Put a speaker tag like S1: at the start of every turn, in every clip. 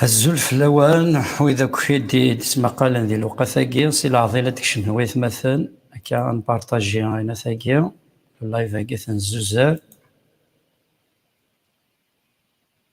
S1: Azul fell-awen, wid akk i d-yettmaqalen di lewqat-agi, si leɛḍil ad d-kecmen waytmaten, akka ad nparṭaji ayenat-agi, live-agi tenzuzer.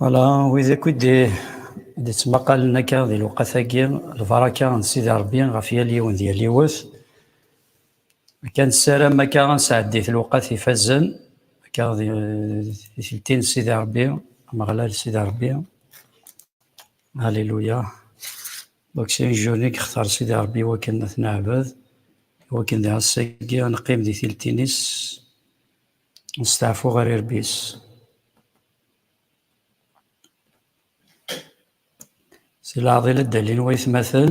S1: Voilà, wid akk i d-yettmaqalen akka di lewqat-agi, lbaraka n Sidi Ṛebbi ɣef yal yiwen d yal yiwet. Akka nessaram akka ad nesɛeddit lewqat ifazen, akka di tikelt-in n Sidi Ṛebbi, Ameɣlal Sidi Ṛebbi. Alléluia. Donc c'est une jeune i yextar Sidi Ṛebbi iwakken ad t-neɛbed, iwakken di ass-agi ad neqqim di tiltin-is, nesteɛfu ɣer irebbi-s. Si leɛḍil ad d-alin waytmaten,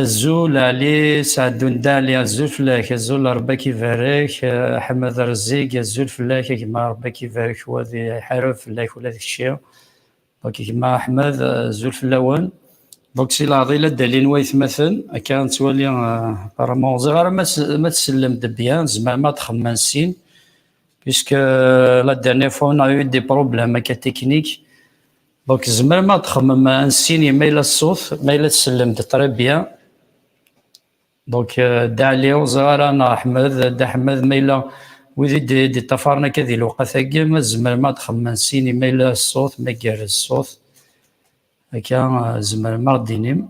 S1: Azul Ɛli Sɛeddundi Ɛli, azul fell-ak, azul Ṛebbi a k-ibarek, Ḥmed Ṛezzig, azul fell-ak a gma Ṛebbi a k-ibarek, wa ad iḥareb fell-ak ula d kečči, donc gma Ḥmed azul fell-awen. Donc si leɛḍil ad d-alin waytmaten, akka nettwali apparemment ur ẓriɣ ara ma tsellem-d bien, tzemrem ad txemmem sin, puisque la dernière fois on a eu des problèmes akka techniques, Donc, tzemrem ad txemmem ansin ma yella ṣṣut, ma yella tsellem-d très bien. Donc, euh, Dda Ɛli, ur ẓriɣ ara neɣ Ḥmed, Dda Ḥmed ma yella wid i d-iṭṭafaren akka di lewqat-agi, ma tzemrem ad txemmem ansin ma yella ṣṣut, ma igerrez ṣṣut. Akka, euh, tzemrem ad ɣ-d-tinim.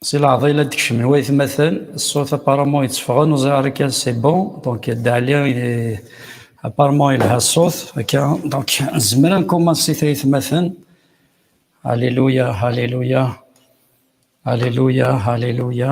S1: Si leɛḍa yella d-kecmen i waytmaten, ṣṣut apparemment yetteffɣen, ur ẓriɣ ara kan c'est bon, donc Dda Ɛli il est apparemment yelha ṣṣut akka, donc nezmer ad nkumansit ay atmaten. Alléluia, Alléluia, Alléluia, Alléluia.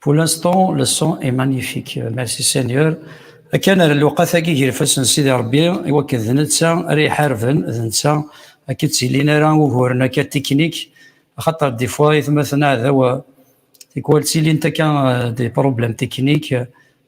S1: Pour l'instant, le son est magnifique. Merci Seigneur. Akken ar lewqat-agi gar ifassen Sidi Rebbi, i wakken d netta ara iḥarben, d netta akka ttilin ara uguren akka tiknik, axaṭer des fois itmaten aɛdaw, tikwal ttilint akka des problèmes techniques,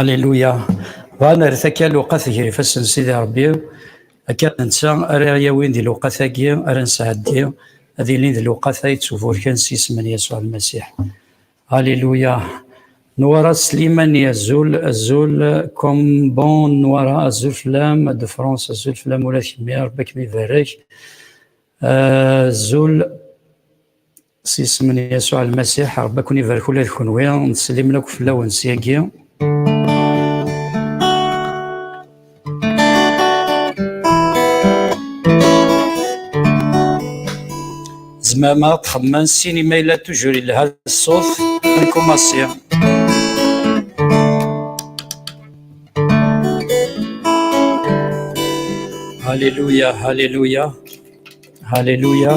S1: Alléluia. Bɣan ar takka lewqat gar ifassen Sidi Rebbi, akka netta ara yawin di lewqat-agi ara nesɛeddi ad ilin di lewqat-a yettuburken s yisem n Yasuɛ Lmasiḥ. Alléluia. Nwara Slimani azul azul Kombon Nwara azul fell-am de France azul fell-am ula d kemmi Rebbi ad kem-ibarek. Azul s yisem n Yasuɛ Lmasiḥ, Ṛebbi ad ken-ibarek ula d kenwi, nteslimen akk fell-awen s yagi. Tzemrem ad txedmem sin imi yella tujur yelha ṣṣut, nkumasi. Hallelujah, Hallelujah, Hallelujah.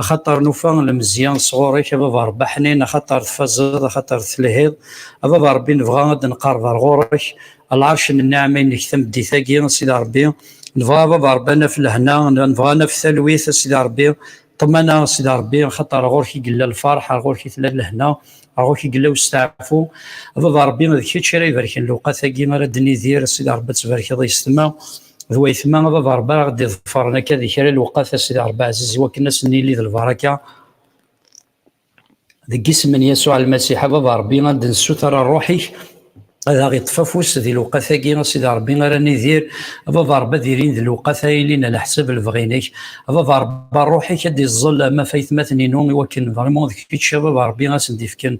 S1: Axaṭer nufa lemzya sɣur-k, a Baba Ṛebbi aḥnin, axaṭer tfazeḍ, axaṭer telhiḍ. A Baba Ṛebbi, nebɣa ad d-nqerreb ar ɣur-k, a lɛerc n nniɛam-inek tameddit-agi, a Sidi Ṛebbi. Nebɣa, a Baba Ṛebbi, ad naf lehna, nebɣa ad naf talwit, a Sidi Ṛebbi, ṭṭmana, a Sidi Ṛebbi, axaṭer ɣur-k i yella lfeṛḥ, ar ɣur-k i tella lehna, ar ɣur-k i yella usteɛfu. A Baba Ṛebbi, d kečč ara ibarken lewqat-agi ara d-nidir, a Sidi Ṛebbi, ad tbarkeḍ i yessetma. d wayetma d aḍerba ara ɣ-d-iḍefren akka di kra lewqat a Sidi Rebbi Ɛziz iwakken ad s-nili d lbaraka deg isem n Yasuɛ Lmasiḥ ad aḍerbi ad d-nessuter ṛṛuḥ-ik ad aɣ-iṭṭef afus di lewqat-agi a Sidi Rebbi ara nidir ad aḍerbi ad ilin d lewqat ara ilin ala ḥsab lebɣi-inek ad aḍerbi ṛṛuḥ-ik ad d-iẓẓel ma ɣef aytmaten-inu iwakken vraiment d kečč ad aḍerbi ad sen-d-ifken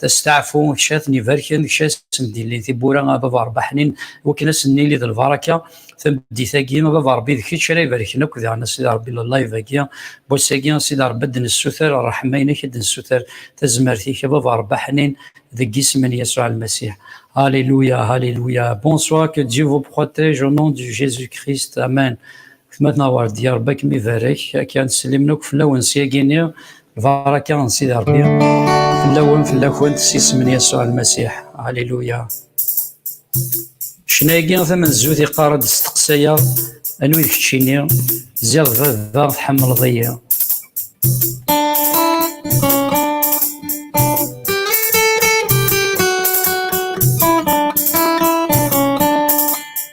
S1: tasteɛfu kečč ad ten-ibarken kečč ad sen-d-ilin tiwwura ad aḍerbi ḥnin wakken ad sen-nili d lbaraka tameddit-agi a baba rebbi d kečč ara ibarken akk diɣen a sidi rebbi llayv-agi wass-agi a sidi rebbi ad d-nessuter ṛṛeḥma-inek ad d-nessuter tazmert-ik a baba rebbi aḥnin deg isem n Yasuɛ Lmasiḥ Alléluia Alléluia Bonsoir que Dieu vous protège au nom de Jésus-Christ Amen Gma tnaweṛ-d ya rebbi ad kem-ibarek akken slimen akk fell-awen syagi-nni Baraka n Sidi Rebbi fell-awen fell-akent s isem n Yasuɛ Lmasiḥ. Aliluya. Ccna-agi tamenzut iqqar-d steqsayeɣ anwi d keččini, ziɣ d baba tḥemmleḍ-iyi.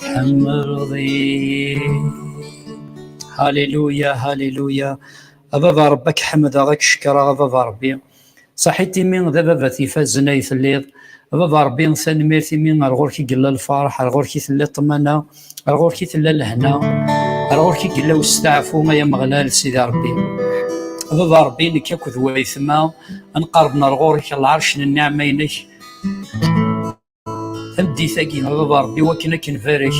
S1: Tḥemmleḍ-iyi. Hallelujah, hallelujah. A baba Rebbi ad k-ḥemdeɣ, ad k-cekreɣ, a baba Rebbi. Saḥit imi d ababat ifazen ay telliḍ. A baba Rebbi, tanemmirt imi ar ɣur-k i yella lferḥ, ar ɣur-k i tella ṭṭmana, ar ɣur-k i tella lehna, ar ɣur-k i yella westeɛfu, ay Ameɣlal, Sidi Rebbi. A baba Rebbi, nekk akked wayetma ad nqerben ar ɣur-k, a lɛerc n nniɛma-inek. Tameddit-agi, baba Rebbi, wakken ad k-nbarek,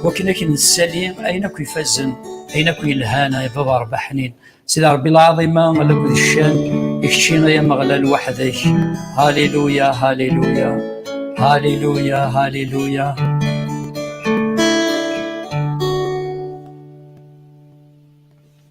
S1: wakken ad k-nessali ayen akk ifazen, ayen akk yelhan, ay baba Rebbi ḥnin. Sidi Rebbi lɛaḍima, alak d ccan, i kečči ay Ameɣlal weḥd-k. Haliluya, haliluya, haliluya, haliluya.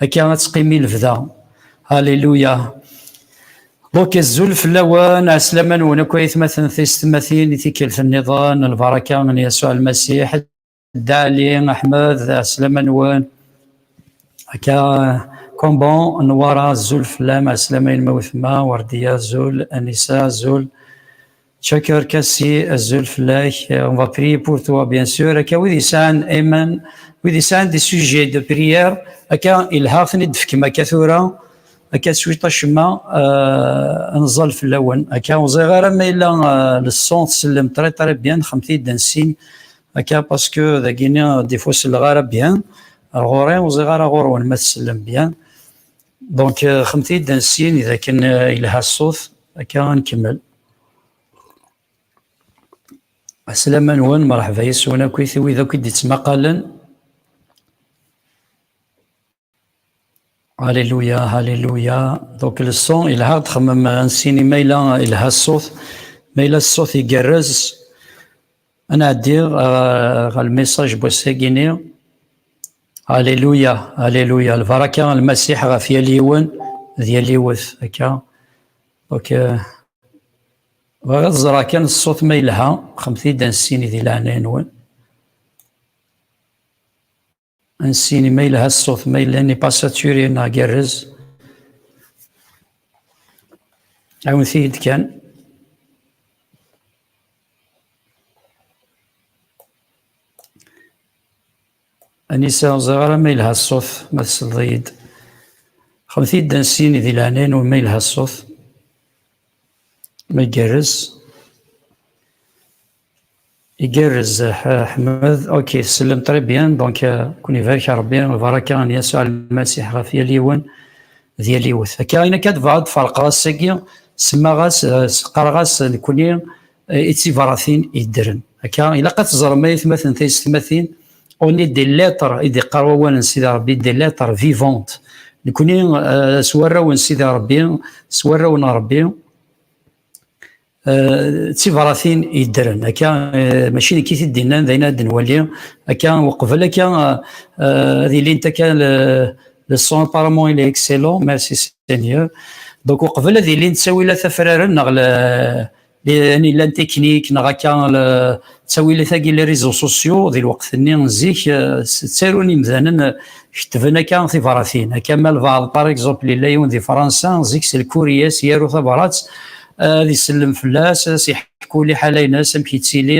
S1: Akka ad teqqimi lebda. Alléluia. Donc azul fell-awen, ɛeslama-nwen akk ayetmaten tiyessetmatin i tikkelt-nniḍen, lbaraka n Yasuɛ Lmasiḥ, Dda Ali, Ahmed, ɛeslama-nwen. Akka Komban, Nwara, azul fell-am, ɛeslama-inem a wetma, Werdiya, azul, Anisa, azul. Çakır Kassi, Azul Flech, euh, on va prier pour toi, bien sûr. Aka wid yesɛan amen, wid yesɛan des sujets de prière, aka ilha ten-id-tefkem aka tura, aka cwiṭ acemma euh, nẓal fell-awen. Aka ur ẓriɣ ara ma yella euh, le son tsellem très très bien, xemt-id ansin, aka parce que dagini des fois selleɣ ara bien, ɣur-i ur ẓriɣ ara ɣur-wen ma tsellem bien. Donc, euh, xemti-d ansin, idha ken euh, ilha ṣṣut, akka an kemmel. Aslama nwen, marḥba yes-wen akk i tiwid akk i d-ittmaqalen. Alléluia, Alléluia. Donc, le son, il a xemmem ansin, il a il a ṣṣut, mais il a ṣṣut igerrez. Ad nɛeddi ɣer lmissaj n wass-agi-nni. Alléluia, Alléluia. Lbaraka n Lmasiḥ ɣef yal yiwen d yal yiwet. Akka. Ok. Bɣiɣ ad ẓreɣ kan ṣṣut ma yelha, xemt-iyi-d ansin di leɛnaya-nwen. Ansini ma yelha ṣṣut, ma yella ni passaturi neɣ gerrez. Ɛawnet-iyi-d kan. Anisa ur ẓriɣ ara ma yelha ṣṣut, ma tesleḍ-iyi-d. Xemt-iyi-d ansini di leɛnaya-nwen ma yelha ṣṣut, ma igerrez. Igerrez Ḥmed, ok tsellem très bien, donc ken ibarek Rebbi, lbaraka n Yasuɛ Lmasiḥ ɣef yal yiwen d yal yiwet. Akka ayen akka tebɣa ad ferqeɣ ass-agi, semmaɣ-as, qqareɣ-as nekni i tsibratin yeddren. Akka ilaq ad teẓrem ay atmaten taysetmatin, on est des lettres i d-iqqar wawal n Sidi Rebbi, des lettres vivantes. Nekni s warraw n Sidi Rebbi, s warraw n Rebbi, d tibṛatin yeddren akka mačči nekk i t-id-innan d ayen ad nwali akka uqbel akka ad ilint akka le son apparemment il est excellent merci Seigneur donc uqbel ad ilint ttawilat afraren neɣ an illan teknik neɣ akka ttawilat-agi les réseaux sociaux di lweqt-nni zik ttarun imdanen kettben akka tibṛatin akka ma lbaɛḍ par exemple yella yiwen di Fransa zik s lkuriyas yaru tabṛat ad isellem fell-as ad as-iḥku liḥala-nnes amek yettili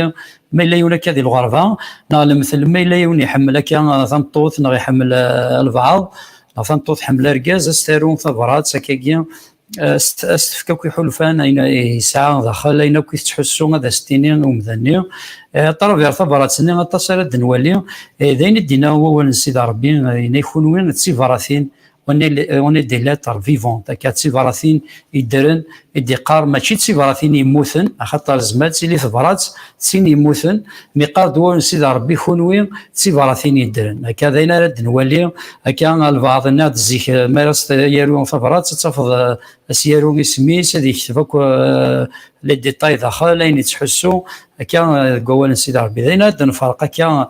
S1: ma yella yiwen akka di lɣerba neɣ lemtel ma yella yiwen iḥemmel akka uh, tameṭṭut neɣ iḥemmel uh, albaɛḍ neɣ tameṭṭut tḥemmel argaz ad s-taru tabrat akkagi uh, ad s-tefk akk iḥulfan ayen yesɛa daxel ayen akk i tettḥussu ad as-tini i umdan-nni ṭrabiɣ tabrat-nni aṭas ara d-nwali d ayen i d-inna wawal n sida rebbi inna kunwi d tibaratin on est, euh, on est des lettres vivantes akka d tibṛatin yeddren i d-iqqar mačči d tibṛatin yemmuten axaṭer zmat tili tebṛat d tin yemmuten mi qqar-d wawal n Sidi Ṛebbi kunwi d tibṛatin yeddren akka d ayen ara d-nwali akka albaɛḍ inna-d zik euh, mi ara s-yaru tabṛat ad tafeḍ euh, as-yaru isem-is ad yekteb akk les détails daxel ayen yettḥussu akka deg wawal n Sidi Ṛebbi d ayen ara d-nferq akka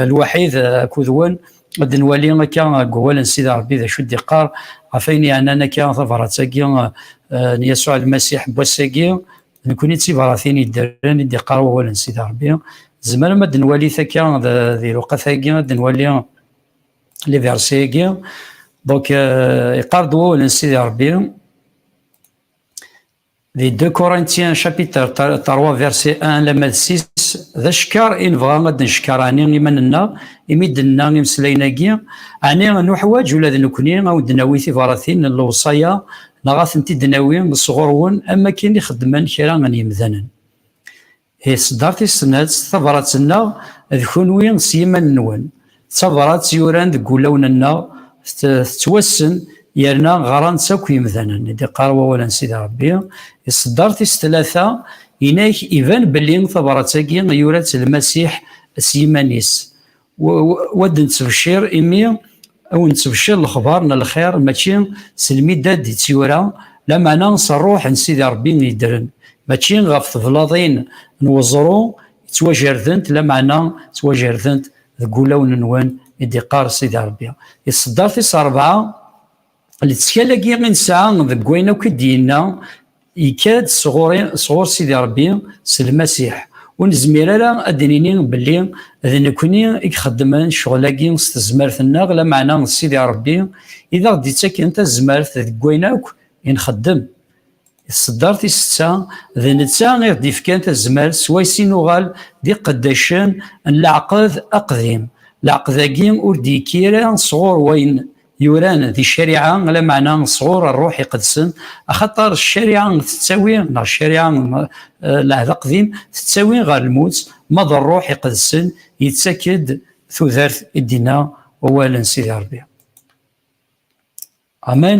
S1: lwaḥid akud wen ad nwali akka deg wawal n Sidi Rebbi d acu d-iqqar ɣef ayen yeɛnan akka tabrat-agi eh, n Yasuɛ Lmasiḥ n wass-agi nekni d tibṛatin yeddren i d-iqqar wawal n Sidi Rebbi zemrem ad nwali takka di luqat-agi ad nwali liversi-agi donc eh, iqqar-d wawal n Sidi Rebbi Di 2 Corinthiens chapitre 3 verset 1 lamma d 6 d acekkeṛ i nebɣa ad d-neckeṛ ɛni iman-nneɣ imi d-nenna imeslayen-agi, ɛni nuḥwaǧ ula d nekkni ad wen-d-nawi tibṛatin n lewṣaya neɣ ad tent-id-nawi sɣur-wen am wakken i xeddmen kra n yemdanen? Isedder tis-snat, Tabrat-nneɣ d kunwi s yiman-nwen. D tabrat yuran deg wulawen-nneɣ, tettwassen yerna ɣran-tt akk yemdanen, i d-iqqar wawal n Sidi Ṛebbi. Isedder tis tlata, Inak iban belli tabrat-agi yura-tt Lmasiḥ s yiman-is. wa d nettbecir imi aw nettbecir lexbar n lxir mačči s lmidad d tyura lamana s rruḥ n sidi rebbi yeddren mačči ɣef teblaḍin n weẓru yettwajardent lamana ttwajardent deg wulawen nwen i d-iqqar sidi rebbi iṣedder tis rebɛa Lettkal-agi i nesɛa deg wayen akk i d-yenna yekka-d sɣur-i, sɣur Sidi Ṛebbi, s Lmasiḥ. Ur nezmir ara ad d-nini belli d nekkni i ixeddmen ccɣel-agi s tezmert-nneɣ, lameɛna d Sidi Ṛebbi i d aɣ-d-ittaken tazmert deg wayen akk i nxeddem. I tṣeddart i setta, d netta i ɣ-d-ifkan tazmert s wayes i nuɣal d iqeddacen n Leɛqed Aqdim. Leɛqed-agi ur d-yekki ara sɣur wayen yuran di ccariɛa lameɛna sɣur ṛṛuḥ iqedsen axaṭer ccariɛa tettawi neɣ ccariɛa eh, lɛehd aqdim tettawi ɣer lmut ma d ṛṛuḥ iqedsen yettak-d tudert i d-inna wawal n Sidi Ṛebbi. Amen.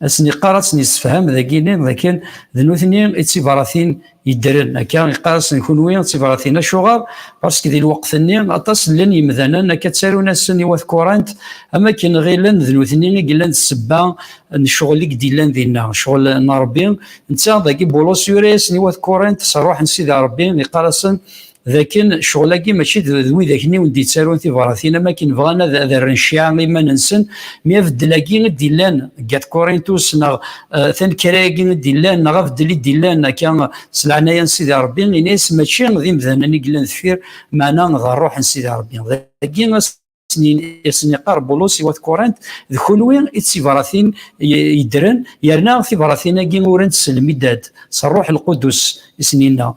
S1: ad sen-iqqar ad sen-yessefham dagini dakken d nutni i d tibaratin yeddren akka iqqar-asen kunwi d tibaratin acuɣer parce que di lweqt-nni aṭas llan yemdanen akka ttarun-asen i wat kurant am akken ɣilen d nutni i yellan d ssebba n ccɣel i d-yellan dinna ccɣel n Rebbi netta dagi Bulus yura-yasen i wat kurant s rruḥ n Sidi Rebbi iqqar-asen d akken ccɣel-agi mačči d widak-nni ur d-yettarun tibratin am akken bɣan ad rren cciɛa i yiman-nsen, mi abeddel-agi i d-yellan deg At Kurintus neɣ tanekra-agi i d-yellan neɣ abeddel i d-yellan akka s leɛnaya n Sidi Ṛebbi, ini-as mačči d imdanen i yellan deffir, meɛna d ṛṛuḥ n Sidi Ṛebbi. Dagi, asen-iqqar Bulus i wat Kurant, d kunwi i d tibṛatin yeddren, yerna tibṛatin-agi urant s lmidad, s Rruḥ Lqudus i sen-yenna.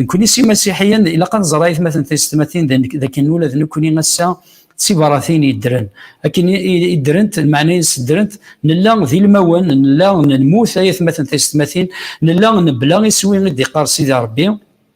S1: Nekkni s imasiḥiyen, ilaq ad nẓer ayetmaten tiysetmatin d akken ula d nekkni ass-a d tibṛatin yeddren. Akken i ddrent, lmeɛna-ines ddrent, nella d ilmawen, nella nemmut ayetmaten tiysetmatin, nella nebla iswi i d-iqqar Sidi Ṛebbi,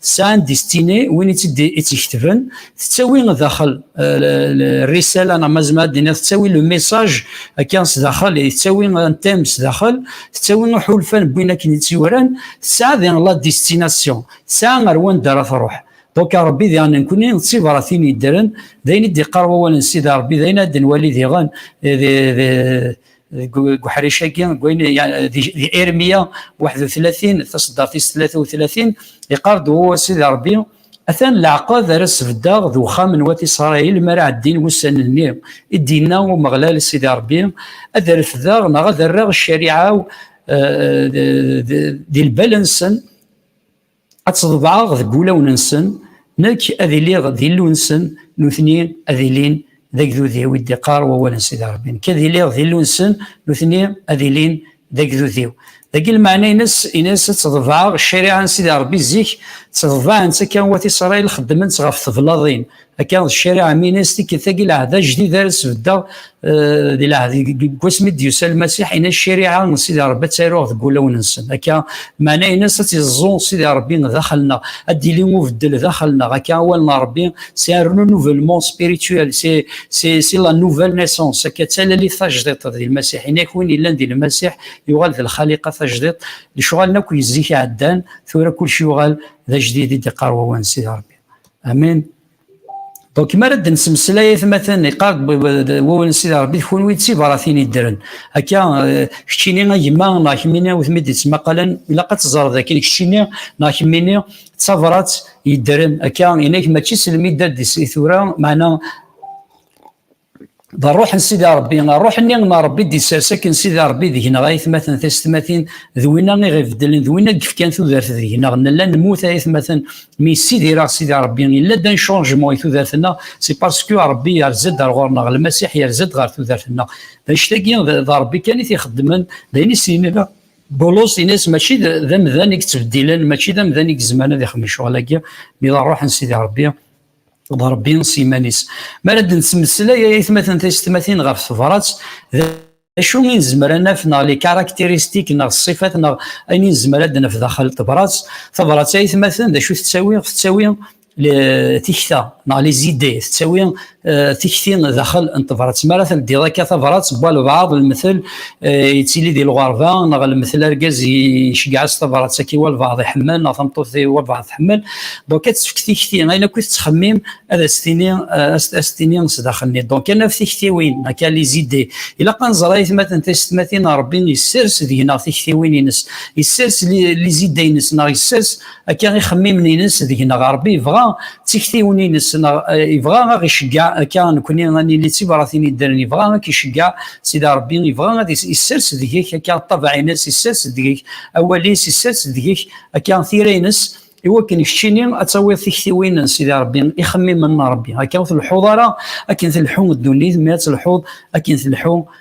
S1: tesɛa n distini win i tt-id-iketben tettawi daxel rrisala neɣ mazma ad d-iniɣ tettawi le messaj akka s daxel tettawi un thème s daxel tettawi iḥulfan wwin akken i tt-yuran tesɛa diɣ la destination tesɛa ar wanda ara truḥ donc Rebbi diɣ nenkni d tibratin yeddren d ayen i d-iqqar wawal n Sidi Rebbi d ayen ad d-nwali diɣen deg uḥric-agi di Irmiya 31 taṣeddart-is 33 iqar-d Uhu a Sidi Ṛebbi, atan leɛqed ara sbeddeɣ d uxxam n wat Isṛayil mi ara ɛeddin wussan-nni, i d-yenna Umeɣlal Sidi Ṛebbi, ad refdeɣ neɣ ad rreɣ ccariɛa-w di lbal-nsen, Ad tt-ḍebɛeɣ deg wulawen-nsen, nekk ad iliɣ d Illu-nsen, nutni ad ilin d agdud-iw, i d-iqqar wawal n Sidi Ṛebbi. Nekk ad iliɣ d Illu-nsen, nutni ad ilin d agdud-iw. Dagi lmeɛna-ines, ines ad tt-ḍebɛeɣ, ccariɛa n Sidi Ṛebbi zik tt-ḍebɛen-tt akka wat Isṛail, xeddmen-tt ɣef teblaḍin, akka d ccariɛa minas tikkelt agi lɛehd ajdid ara sbeddeɣ eh, di lɛehd deg wasmi d-yusa lmasiḥ ina ccariɛa n sidi rebbi ad taruɣ deg wulawen-nsen akka maɛna inas ad tiẓẓu sidi rebbi daxel-nneɣ ad d-yili ubeddel daxel-nneɣ akka awal n rebbi c'est un renouvellement spirituel c'est c'est c'est la nouvelle naissance akka d talalit tajdiṭ di lmasiḥ ina ak win yellan di lmasiḥ yuɣal d lxaliqa tajdiṭ lecɣalen akk yezzik ɛeddan tura kulci yuɣal d ajdid i d-iqqar wawan sidi rebbi Amen. Donc, ma rad n semslayet matan iqard wawal n sida Rebbi kunwi d tibaratin iddren. Akka eh, keččini a gma neɣ kemmini ur tmid yettmaqalen ilaq ad teẓreḍ dakken keččini neɣ kemmini d tabrat yeddren. Akka inak mačči selmi d tis i tura maɛna d ṛṛuḥ n Sidi Ṛebbi, ṛṛuḥ-nni n Ṛebbi i d-isers akken Sidi Ṛebbi deg-neɣ aytmaten taysetmatin, d winna i ɣ-ibeddlen, d winna i yefkan tudert deg-neɣ, nella nemmut a aytmaten, mi yessidir-aɣ Sidi Ṛebbi, yella-d un changement i tudert-nneɣ, c'est parce que Ṛebbi yerza-d ar ɣur-neɣ, Lmasiḥ yerza-d ɣer tudert-nneɣ. D annect-agi, d Ṛebbi kan i t-ixeddmen, d ayen i s-yenna Bulus, yenna-as mačči d amdan i yettbeddilen, mačči d amdan i yezmaren ad ixdem lecɣal-agi, mi d ṛṛuḥ n Sidi Ṛebbi, d Rebbi s yiman-is. Mi ara d-nettmeslay ay atmaten tisetmatin ɣef tebrat, d acu i nezmer ad naf neɣ les caractéristiques neɣ ṣṣifat neɣ ayen i nezmer ad naf daxel tebrat. Tabrat ay atmaten d acu tettawi? Tettawi tikta neɣ les idées, tettawi tikti daxel n tebrat. Mi ara teldiḍ akka tabrat, wwa lbaɛḍ, lemtel, eh, yettili di lɣerba neɣ lmetla argaz yeceggeɛ-as tabrat akka i walbaɛḍ iḥemmel neɣ tameṭṭut i walbaɛḍ tḥemmel donc ad tefk tikti ayen akk i tettxemmim ad as-tini eh, as-tini sdaxel-nni donc ad naf tiktiwin akka li zidé ilaq ad nẓer aytmaten tisetmatin rebbi yessers deg-neɣ tiktiwin-ines yessers li zidé-ines neɣ yessers akka ixemmimen-nnes deg-neɣ Ṛebbi yebɣa d tiktiwin-nnes neɣ yebɣa ad ɣ-iceggeɛ akka nekkni ad nili d tibṛatin yeddren yebɣa ad k-iceggeɛ Sidi Ṛebbi yebɣa ad isers deg-k akka ṭṭabaɛ-nnes isers deg-k awal-is isers deg-k akka tira-nnes i wakken keččini ad tawiḍ tiktiwin n Sidi Ṛebbi ixemmimen n Ṛebbi akka ur tleḥḥuḍ ara akken tleḥḥu ddunit mi ad telḥuḍ akken tleḥḥu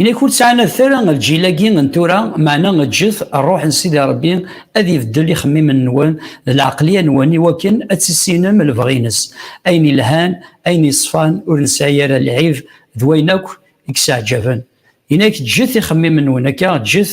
S1: Inak ur ttɛanadet ara lǧil-agi n tura, meɛna eǧǧet Rruḥ n Sidi Ṛebbi ad ibeddel ixemmimen-nwen d lɛeqleyya-nwen i wakken ad tissinem lebɣi-ines, ayen ilhan, ayen yeṣfan, ur nesɛi ara lɛib d wayen akk i yesɛeǧǧaben. Inak eǧǧet ixemmimen-nwen akka, eǧǧet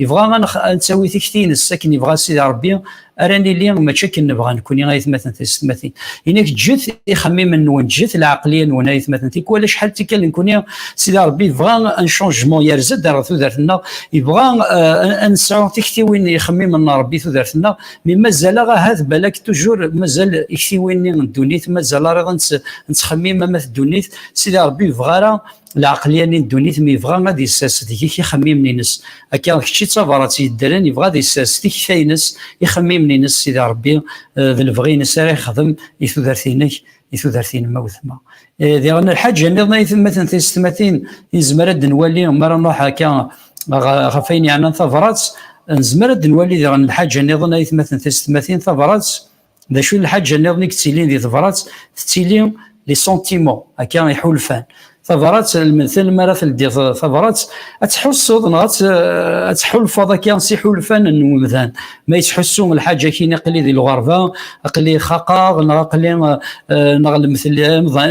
S1: Yebɣa ad nettawi tikti-ines akken yebɣa Sidi Rebbi ara nili mačči akken nebɣa nekkni ayetmaten tisetmatin. Inak ǧǧet ixemmimen-nwen, ǧǧet lɛeqliya-nwen ayetmaten tikwal acḥal tikkal nekkni Sidi Rebbi yebɣa un changement yerza-d ar tudert-nneɣ, yebɣa ad nesɛu tiktiwin ixemmimen n Rebbi tudert-nneɣ, mi mazal-aɣ ahat balak toujours mazal iktiwin-nni n ddunit mazal ariɣ ad nettxemmim amat ddunit, Sidi Rebbi ur yebɣa ara lɛeqlyani n ddunit mi yebɣa ad yessers deg-k ixemmimen-nnes akka kečč i d tabrat yeddren yebɣa ad yessers tikta-nnes ixemmimen-nnes sida rebbi eh, d lebɣi-nnes ara yexdem i tudert-nnek i tudert-nnem awetma eh, diɣen lḥaǧa niḍen ay temmaten tisetmatin yezmer ad nwali mi ara nruḥ akka ɣef ayen yeɛnan tabrat nezmer ad nwali diɣen lḥaǧa niḍen ay temmaten tisetmatin tabrat D acu n lḥaǧa nniḍen i yettilin di tebrat? Tettili li sentiment, akka iḥulfan. Tabrat, lmentel mi ara teldiḍ tabrat, ad tḥusseḍ neɣ ad tḥulfaḍ akka s iḥulfan n umdan. Ma yettḥussu lḥaǧa kini aqli di lɣerba, aqli xaqeɣ, neɣ aqli neɣ lmentel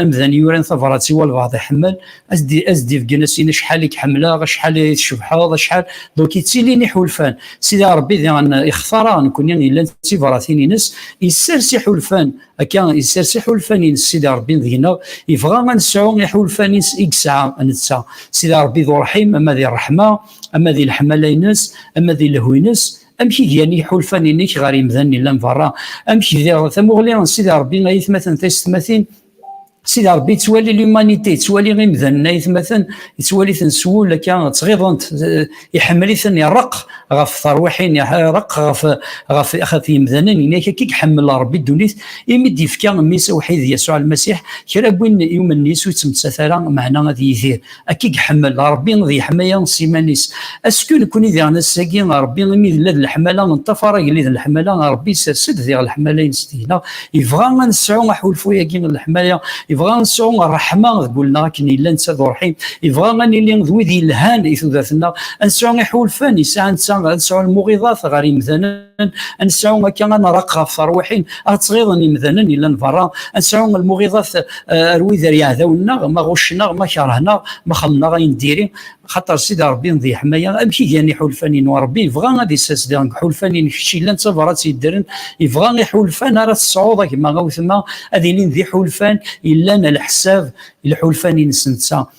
S1: amdan yuran tabrat i walbaɛḍ iḥemmel, as-d-ibeggen as-in acḥal i k-ḥemmleɣ, acḥal i tcebḥeḍ, acḥal. Donc yettilin iḥulfan. Sidi Ṛebbi diɣen ixtara nekkni yellan d tibratin-ines, isers iḥulfan, akka isers iḥulfan-ines Sidi Ṛebbi deg-neɣ, ibɣa ad nesɛu iḥulfan-is i yesɛa netta. Sidi Ṛebbi d uṛḥim, ama di ṛṛeḥma, ama di leḥmala-ines, ama di lehwi-ines, amek i gan yiḥulfan-inek ɣer yemdanen yellan beṛṛa, amek diɣ tamuɣli n Sidi Ṛebbi ay aytmaten taysetmatin, Sidi Rebbi yettwali l'humanité, yettwali imdanen ayetmaten, yettwali-ten s wul akka ttɣiḍent, eh, iḥemmel-iten, ireq ɣef terwiḥin, ireq ɣef, ɣef, ɣef yimdanen, inak akka iḥemmel Rebbi ddunit, imi d-yefka mmi-s awḥid Yasuɛ Lmasiḥ, kra n win yumen Yesu ur yettmettat ara, meɛna ad yidir. Akka i iḥemmel Ṛebbi ad yeḥmaya s iman-is. Asku nekkni diɣen ass-agi Ṛebbi imi yella d leḥmala neṭṭafar agellid n leḥmala, Ṛebbi isers-d diɣ leḥmala-ines deg-neɣ, yebɣa ad nesɛu aḥulfu-agi n leḥmala, yebɣa ad nesɛu ṛṛeḥma deg wul-neɣ akken yella netta d uṛḥim, yebɣa ad nili d wid yelhan i tudert-nneɣ, ad nesɛu iḥulfan yesɛa netta, ad nesɛu lmuɣiḍat ɣer yemdanen. ad nesɛu akka ad nraq ɣef terwiḥin ad ttɣiḍen imdanen yellan berra ad nesɛu lmuɣiḍat eh, ar wid ar yeɛdawen-nneɣ ma ɣuccen-aɣ ma kerhen-aɣ ma xemmen-aɣ ayen diri xaṭer sidi rebbi di ḥmaya amek i gan iḥulfan-in rebbi yebɣa ad isasdiɣ deg ḥulfan-in kečč yellan d tabrat yeddren yebɣa iḥulfan ara tesɛuḍ a gma a wetma ad ilin d iḥulfan yellan a leḥsab iḥulfan-ines netta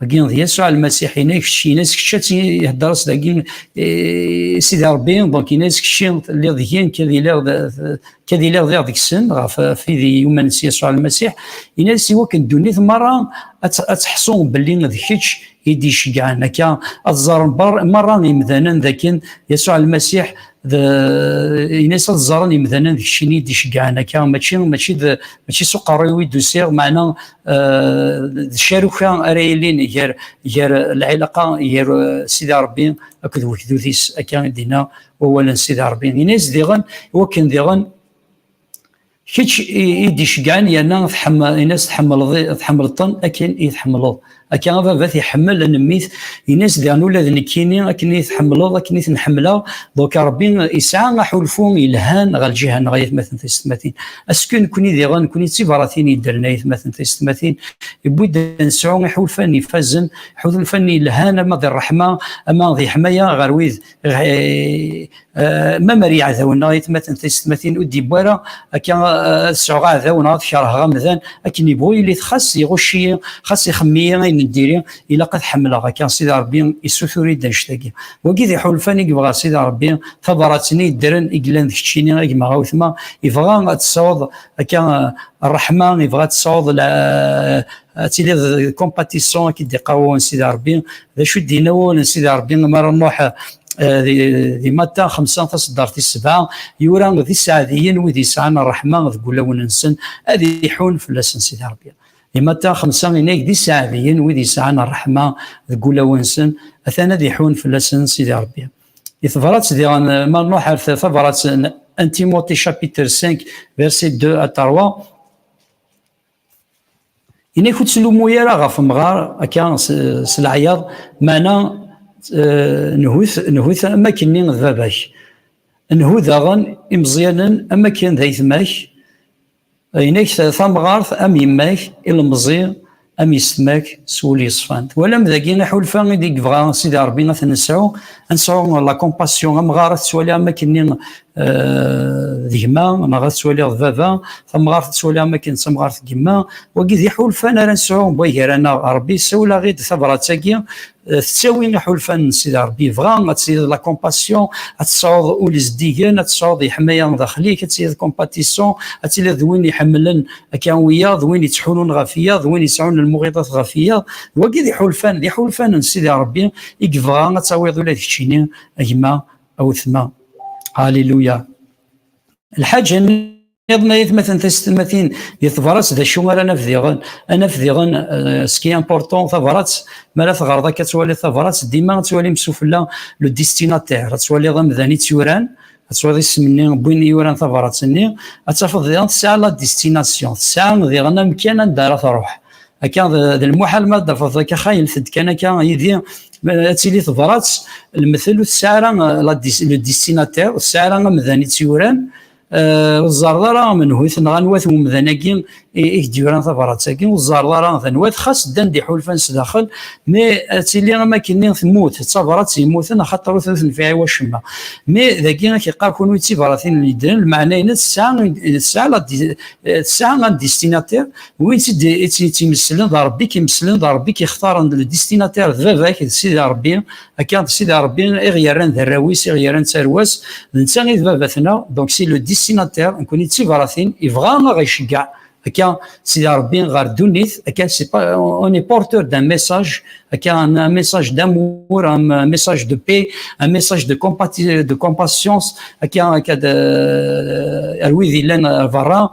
S1: Dagi d Yasuɛ Lmasiḥ inek, kečč inas kečč ad ihedder-as dagi i Sidi Rebbi, donc inas kečč telliḍ deg yen kad iliɣ kad iliɣ diɣ deg-sen ɣef tid yuman s Yasuɛ Lmasiḥ, inas i wakken ddunit merra ad teḥṣu belli d kečč i d-iceggɛen akka ad ẓẓaren merra imdanen d akken Yasuɛ Lmasiḥ d inas ad ẓẓaren imdanen d keččini i d-iceggɛen akka mačči mačči d mačči s uqerru-iw i d-usiɣ meɛna d caruka ara yilin gar gar lɛilaqa gar sidi rebbi akked wegdud-is akka i d-inna wawal n sidi rebbi ini-as diɣen wakken diɣen kečč i d-iceggan yerna ini-as tḥemmleḍ-ten akken i tḥemmleḍ akka ababat iḥemmel anemit ini-as diɣen ula d nekkini akken i tḥemmleḍ akken i ten-ḥemmleɣ donc rebbi isɛa aḥulfu yelhan ɣer lǧihan ɣer yatmaten tisetmatin Asku nekkni diɣen, nekkni d tibaratin yeddren ayetmaten tisetmatin, yewwi-d ad nesɛu iḥulfan ifazen, iḥulfan yelhan ama di ṛṛeḥma, ama di ḥmaya ɣer wid ma mer yeɛdawen neɣ ayetmaten tisetmatin ur d-yewwi ara akka ad sɛuɣ aɛdaw neɣ ad kerheɣ amdan akken yebɣu yili-t xas iɣucc-iyi, xas ixemmem-iyi ayen n diri, ilaq ad ḥemmleɣ akka sidi rebbi issutur-id annect-agi wagi d iḥulfan i yebɣa sidi rebbi tabrat-nni yeddren i yellan d keččini a gma awetma yebɣa ad tesɛuḍ akka ṛṛeḥma yebɣa ad tesɛuḍ ad tiliḍ compatissant akka d-iqawwen sidi rebbi d acu i d-yenna wawal n sidi rebbi mi ara nṛuḥ di Matta xemsa taṣeddart tis sebɛa yura d iseɛdiyen wid yesɛan ṛṛeḥma deg wulawen-nsen ad iḥun fell-asen sidi rebbi Imata xemsa inag d iseɛdiyen wid yesɛan ṛṛeḥma deg wulawen-nsen, atan ad iḥun fell-asen Sidi Ṛebbi. Di tebṛat diɣen ma nṛuḥ ar tabṛat n un Timothée chapitre 5 verset 2 à 3, Inak ur ttlummu ara ɣef umɣar akka s leɛyaḍ, meɛna nhu-t am wakken-nni d baba-k. Nhu daɣen imeẓyanen am wakken d ayetma-k, Inek tamɣart am yemma-k, ilemẓi am yessetma-k s wul yeṣfan. Twalam dagi aḥulfa i d-yebɣa Sidi Ṛebbi ad t-nesɛu, ad nesɛu la compassion. Amɣar ad t-ttwaliɣ am wakken-nni d gma, neɣ ad t-ttwaliɣ d baba, tamɣart ad tt-ttwaliɣ am wakken d tamɣart n yemma. Wagi d iḥulfan ara nesɛu gar-aneɣ. Ṛebbi yessawel-aɣ-id tabṛat-agi Eh, tettawi iḥulfan n Sidi Rebbi yebɣa ad tiliḍ la compassion ad tesɛuḍ ul izeddigen ad tesɛuḍ yeḥmaya daxel-ik ad tiliḍ compatissant ad tiliḍ d win iḥemmlen akka wiyaḍ d win yettḥulun ɣef iyaḍ d win yesɛun lmuɣiḍat ɣef iyaḍ d wagi d iḥulfan d iḥulfan n Sidi Rebbi i yebɣa ad tawiḍ ula d keččini a gma a wetma Alléluia الحاجة Iḍen ayetmaten tasetmatin di tebrat d acu ara naf diɣen anaf diɣen euh, ce qui est important tabrat mi ara teɣreḍ akka ad twaliḍ tabrat dima ad twalim sufella le destinataire ad twaliḍ amdan i tt-yuran ad twaliḍ isem-nni win i yuran tabrat-nni ad tafeḍ diɣen tesɛa la destination tesɛa diɣen amkan anda ara truḥ akka d lmuḥal ma d-tafeḍ akka xaylet-d kan akka yidi ad tili tebrat lmetel ur tesɛa ara euh, le destinataire ur tesɛa ara amdan i tt-yuran ur tzerreḍ ara amenhut neɣ anwa-t umdan-agi i k-d-yuran tabrat-agi ur tzerreḍ ara d anwa-t xas ddan-d iḥulfan sdaxel mi ad tili am akken temmut d tabrat yemmuten axaṭer ur tenfiɛ i wacemma mi dagi ad k-iqqar kunwi d tibratin n yeddren lmeɛna-ines tesɛa un destinataire win i tt-yemmeslen d Rebbi i k-yemmeslen d Rebbi i k-ixtaren le destinataire d baba-k d Sidi Rebbi Akka, d Sidi Rebbi i ɣ-yerran d arraw-is, i ɣ-yerran d tarwa-s, d netta i d baba-tneɣ, donc c'est le destinateur, nekkni d tibṛatin, yebɣa a ɣ-iceggeɛ akka Sidi Rebbi ɣer ddunit, akka c'est pas, on est porteur d'un message, akka un message d'amour, un message de paix, un message de compati- de compassion, akka akka d ar wid yellan ar berra,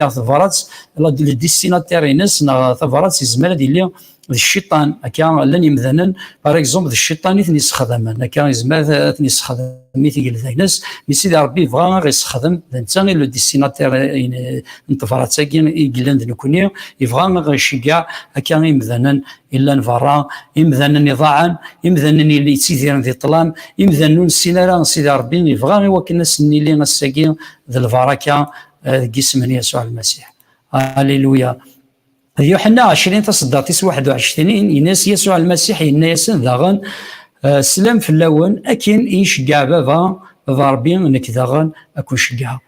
S1: neɣ tabrat le destinataire ines neɣ tabrat yezmer ad yili d cciṭan akka llan yemdanen par exemple d cciṭan i ten-yessexdamen akka yezmer ad ten-yessexdem i tigelda-ines mi sidi rebbi yebɣa ad ɣ-yessexdem d netta i le destinataire n tebrat-agi i yellan d nekkni yebɣa ad ɣ-iceggeɛ akka imdanen illan berra imdanen iḍaɛen imdanen yelli yettidiren di ṭlam imdanen ur nessin ara sidi rebbi yebɣa i wakken asen-nili ass-agi d lbaraka eh, deg isem n Yasuɛ Almasiḥ. Aleluya. D Yuḥenna 20 taṣeddaṭ-is 21 yenna-as Yasuɛ Almasiḥ yenna-yasen daɣen eh, slam fell-awen akin i iceggeɛ baba baba Rebbi nekk daɣen ad kun-ceggɛeɣ.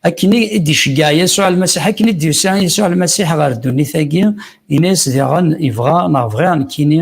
S1: Akken i d-iceggeɛ Yasuɛ Almasiḥ akken i d-yusa Yasuɛ Almasiḥ ɣer ddunit-agi yenna-as daɣen ibɣa neɣ bɣiɣ nekkini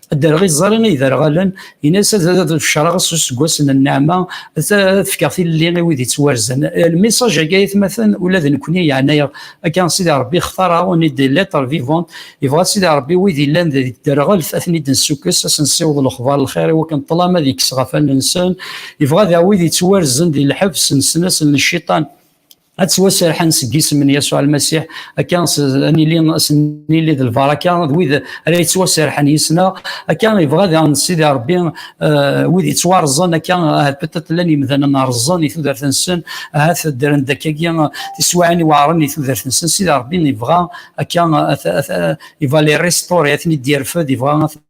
S1: Dderɣ iẓẓari i iderɣalen, in-as ad fecreɣ s useggas n nneɛma, ad fkeɣ tilelli i wid yettwarzen. Lmisaǧ-agi ay atmaten, ula d nekkni yeɛna-aɣ. Akka, Sidi Ṛebbi ixtar-aɣ, on est des lettres vivantes, yebɣa Sidi Ṛebbi wid yellan di tderɣelt ad ten-id-nessukkes, ad sen-nessiweḍ lexbar n lxir i wakken ṭṭlam ad yekkes ɣef allen-nsen. Yebɣa daɣ wid yettwarzen di lḥebs, nessen-asen lciṭan. ad ttwaserḥen seg isem n Yasuɛ Lmasiḥ akka ad nili nili d lbaraka d wid ara yettwaserḥen yis-neɣ akka yebɣa ad aɣen Sidi Rebbi eh, wid yettwarẓen akka ahat eh, peut-être llan yemdanen rẓen i tudert-nsen ahat eh, ddren-d akkagi tiswiɛin iweɛren i tudert-nsen Sidi Rebbi yebɣa akka il va les restaurer ad ten-id-yerfed yebɣa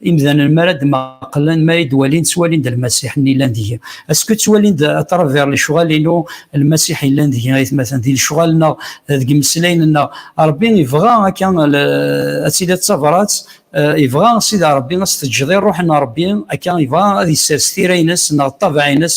S1: imdanen mi ara d-maqlen mi ara d-walin ttwalin-d lmasiḥ-nni yellan deg-i asku ttwalin-d atraver lecɣal-inu lmasiḥ yellan deg-i aytmaten di lecɣal-nneɣ deg imeslayen-nneɣ Rebbi ibɣa akka ad tili d tabrat ibɣa Sidi Rebbi ad s-teǧǧeḍ i ṛṛuḥ n Rebbi akka ibɣa ad yessers tira-ines neɣ ṭṭabaɛ-ines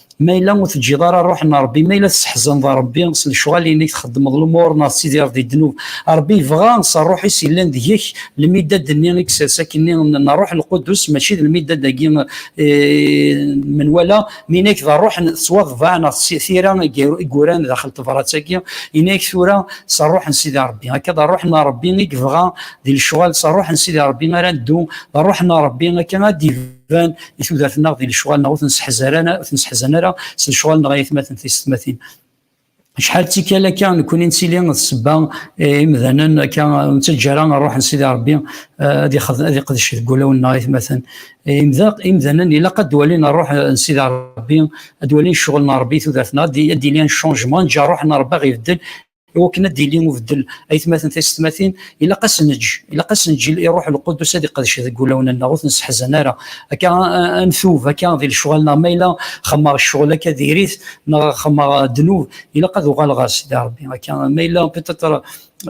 S1: ma yella ur teǧǧiḍ ara ṛṛuḥ n Ṛebbi, ma yella tesseḥzaneḍ Ṛebbi s lecɣal-inek, txeddmeḍ lumuṛ neɣ tettidireḍ di ddnub, Ṛebbi yebɣa s ṛṛuḥ-is yellan deg-k lmiddad-nni i isers akkenni n Ṛṛuḥ Lqudus, mačči d lmiddad-agi n menwala, mi yenna-ak d ṛṛuḥ n ttwaḍbaɛ neɣ s tira i yuran daxel n tebṛat-agi, yenna-ak tura s ṛṛuḥ n Sidi Ṛebbi. Akka d ṛṛuḥ n Ṛebbi i yebɣa di lecɣal, s ṛṛuḥ n Sidi Ṛebbi ara neddu, d ṛṛuḥ n Ṛebbi akka ara d-yebdu. iban i tudert-nneɣ di lecɣal-nneɣ ur ten-seḥzan ara s lecɣal-nneɣ ay atmaten tisetmatin. Acḥal d tikkal akka nekkuni nettili d sebba imdanen akka ur nettaǧǧa ara ṛṛuḥ n Sidi Ṛebbi ad iqdec deg wulawen-nneɣ ay atmaten. Imdanen ilaq ad walin ṛṛuḥ n Sidi Ṛebbi, ad walin ccɣel n Ṛebbi i tudert-nneɣ, ad d-yili un changement, ad neǧǧ ṛṛuḥ n Ṛebbi ad ɣ-ibeddel, i wakken ad d-yili ubeddel aytmaten taysetmatin ilaq ad s-neǧǧ ilaq ad s-neǧǧ i ruḥ lqudus ad iqedc deg wulawen-nneɣ ur ten-sseḥzan ara akka ad ntub akka di lecɣal-nneɣ ma yella xemmeɣ ccɣel akka diri-t neɣ xemmeɣ ddnub ilaq ad uɣaleɣ ɣer Sidi Ṛebbi akka ma yella peut-être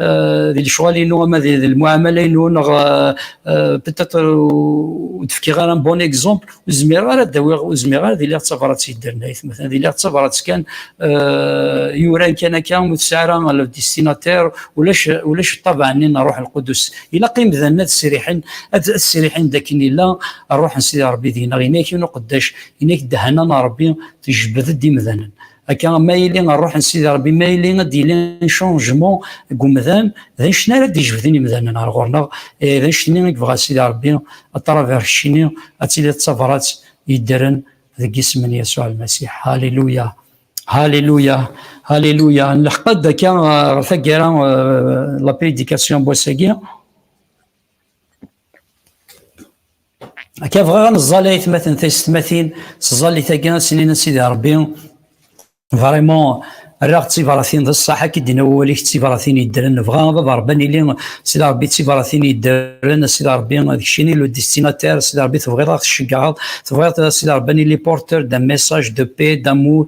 S1: euh, di lecɣal-inu ama di lmuɛamala-inu neɣ euh, euh, peut-être ur d-fkiɣ ara un bon exemple zmireɣ ara d-awiɣ ur zmireɣ ara d-iliɣ d tabrat yeddernayt d iliɣ d tabrat kan eh, yuran kan akka ur tesɛi ara le destinater ulac ulac ṭṭabeɛ-nni n ṛṛuḥ lqudus ilaq imdanen ad sriḥen ad sriḥen dakken illa ṛṛuḥ n Sidi Ṛebbi deg-neɣ ini-ak-in uqeddac ini-ak ddehana n Ṛebbi tejbed-d imdanen Akka, ma yili ṛṛuḥ n Sidi Ṛebbi, ma yili ad d-yili ncunjmu deg umdan, d annect-nni ara d-yejbden imdanen ɣer ɣur-neɣ, d annect-nni i yebɣa Sidi Ṛebbi, a travers keččini, ad tiliḍ d tabṛat yeddren deg yisem n Yasuɛ Lmasiḥ. Haliluya! Haliluya! Haliluya! Nleḥq-d akka ɣer taggara, la prédication n wass-agi. Akka bɣiɣ ad neẓẓal ayetmaten taysetmatin s ẓẓalit-agi ad s-inin a sidi Rebbi vraiment rraɣ d tibaratin d ṣṣeḥ akka i d-yenna wawal-ik d tibaratin yeddren nebɣa a baba Rebbi ad nili sidi Rebbi d tibaratin yeddren a sidi Rebbi d kečč i nil destinataire a sidi Rebbi tebɣiḍ ad ɣ-tceggeɛeḍ tebɣiḍ a sidi Rebbi ad nili porteur d'un message de paix d'amour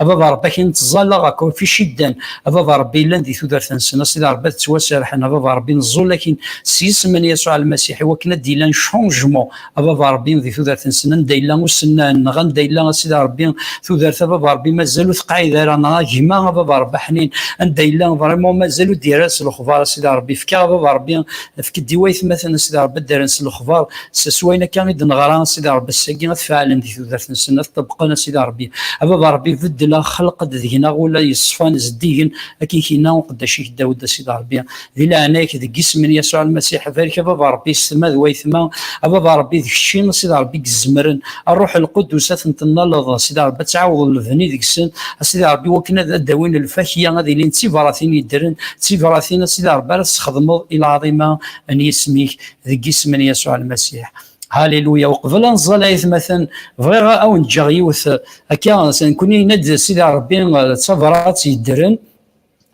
S1: a baba rebbi akin nettẓallaɣ akk fi ciddan a baba rebbi yellan di tudert-nsen a sidi rebbi ad ttwaserḥen a baba rebbi neẓẓul akin s yisem n yasuɛ lmasiḥ i wakken ad d-yellan changement a baba rebbi di tudert-nsen anda yella usennan neɣ anda yella a sidi rebbi tudert a baba rebbi mazal ur teqɛid ara neɣ a gma a baba rebbi ḥnin anda yella vraiment mazal ur d-yerra s lexbar a sidi rebbi fka a baba rebbi efk-d i waytmaten a sidi rebbi ad d-rren s lexbar s s wayen akka i d-neɣra a sidi rebbi ass-agi ad faɛlen di tudert-nsen ad ṭṭebqen a sidi rebbi a baba rebbi beddel axelq-d deg-neɣ ula yeṣfan zeddigen akken k-yenna uqeddac-ik Dawed a sidi rebbi di leɛnaya-k deg isem n Yasuɛ Lmasiḥ barek a baba rebbi s tma d wayetma a baba rebbi d kečči a sidi rebbi i izemren a Rruḥ Lqudus ad ten-tennaleḍ a sidi rebbi ad tɛawdeḍ lebni deg-sen a sidi rebbi wakken ad d-awin lfakya ad ilin d tibratin yeddren d tibratin a sidi rebbi ara tesxedmeḍ i lɛaḍima n yisem-ik deg isem n Yasuɛ Lmasiḥ. Haliluya, uqbel ad nẓal ayetmaten, bɣiɣ ad awen-ǧǧeɣ yiwet akka, nekkni yenna-d Sidi Rebbi d tabrat yeddren,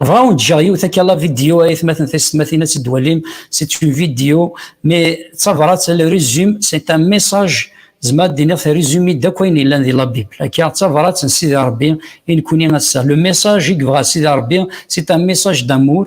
S1: bɣiɣ ad awen-ǧǧeɣ yiwet akka la vidéo ayetmaten taysetmatin ad tt-id-twalim, c'est une vidéo, mais d tabrat, le résumé, c'est un message zemreɣ ad d-iniɣ terrizumi-d akk ayen yellan di la Bible. Akka, d tabrat n Sidi Rebbi i nekkni ass-a. Le message i yebɣa Sidi Rebbi, c'est un message d'amour,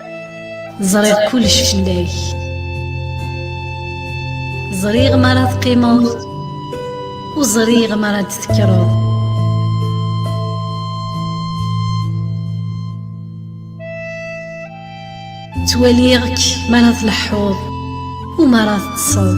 S2: ẓriɣ kullec fell-ak ẓriɣ mi ara teqqimeḍ u ẓriɣ mi ara d-tekkreḍ ttwaliɣ-k mi ara tleḥḥuḍ u mi ara teṭṭseḍ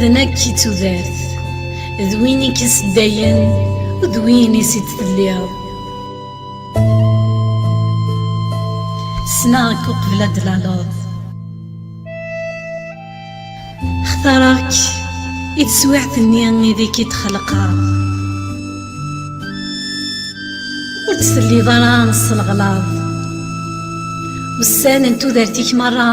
S2: D nekk i d tudert, d win i k-iseddayen, d win i s-id-telliḍ. Ssneɣ-k uqbel ad d-tlaleḍ. Xtareɣ-k i teswiɛt-nni ideg k-id-xelqeɣ. Ur d-telliḍ ara s lɣlaḍ. Ussan n tudert-ik merra.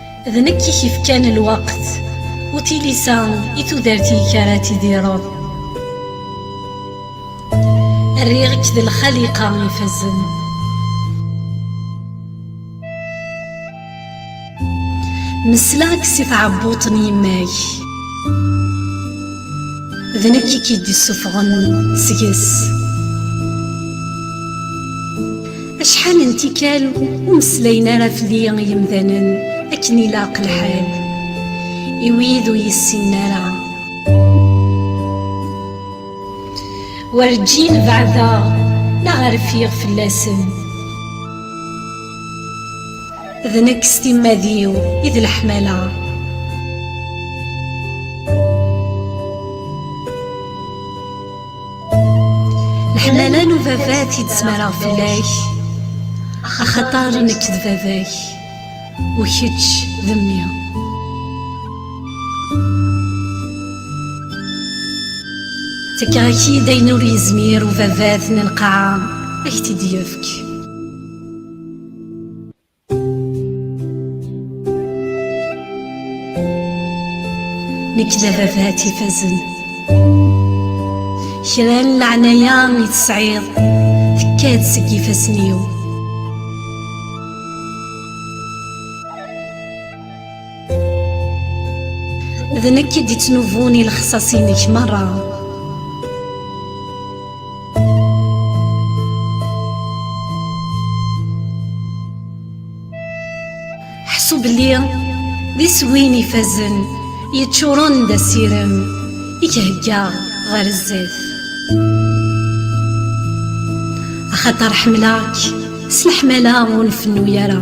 S2: D nekk i k-ifkan lweqt, u tilisa i tudert-ik ara tidireḍ. Rriɣ-k d lxaliqa ifazen. Mesleɣ-k si tɛebbuṭ n yemma-k. D nekk i k-id-isuffɣen seg-s. Acḥal n tikkal ur meslayen ara fell-i yemdanen akken ilaq lḥal i wid ur yessinen ara. Werǧin beɛdeɣ neɣ rfiɣ fell-asen. D nekk s timmad-iw i d leḥmala. leḥnana n ubabat i d-smareɣ fell-ak axaṭar nekk d baba-k u kečč d mmi tekkaɣ-ak-id ayen ur yezmir ubabat n lqaɛa ak-t-id-yefk nekk d ababat ifazen kra n leɛnaya i tesɛiḍ tekka-d seg ifassen-iw D nekk i d-ittnubun i lexṣaṣ-inek merra. Ḥṣu belli d iswi-n ifazen yeččuren d asirem i k-heggaɣ ɣer zzat. Axaṭer ḥemleɣ-k s leḥmala ur nfennu ara.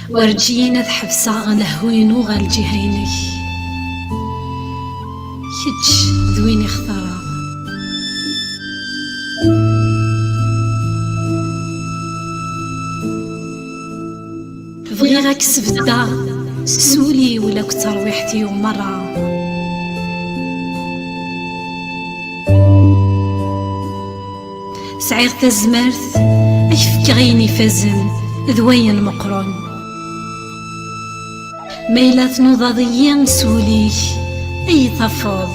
S2: Werǧin ad ḥebseɣ lehhu-inu ɣer lǧiha-inek. Kečč d win i xtareɣ. Bɣiɣ ad k-sbeddeɣ s wul-iw la k terwiḥt-iw merra. Sɛiɣ tazmert ad k-fkeɣ ayen ifazen d wayen meqqren. Ma yella tnudaḍ-iyi s wul-ik, ad yi-tafeḍ.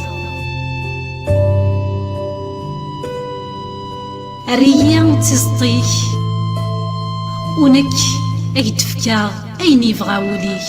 S2: Err-iyi d tizeṭ-ik, u nekk ad k-d-fkeɣ ayen yebɣa wul-ik.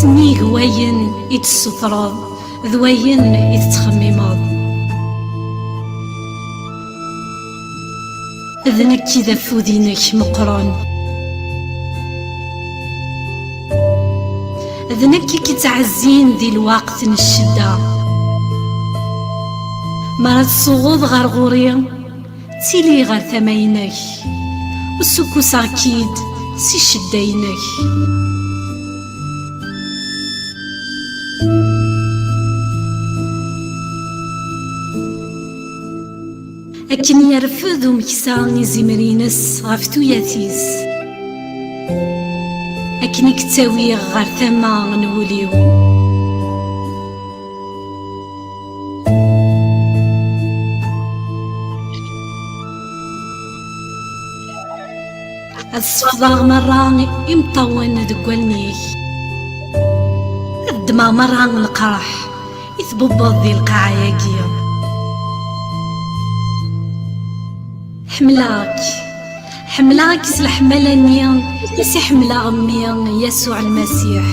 S2: Snig wayen i d-tessutreḍ d wayen i tettxemmimeḍ. D nekk i d afud-inek meqqren. D nekk i k-ittɛezzin di lweqt n ccedda. Mi ara tsuɣeḍ ɣer ɣur-i. Ttili ɣer tama-inek, usukuseɣ-k-id si ccedda-inek. Akken yerfed umeksa izimer-ines ɣef tuyat-is, akken i k-ttawiɣ ɣer tama n wul-iw. ad sefḍeɣ merra imeṭṭawen deg wallen-ik ad ddmeɣ merra leqraḥ i tbubbeḍ di lqaɛa-agi ḥemmleɣ-k Ḥemmleɣ-k s leḥmala-nni i s-iḥemmleɣ mmi Yasuɛ Lmasiḥ.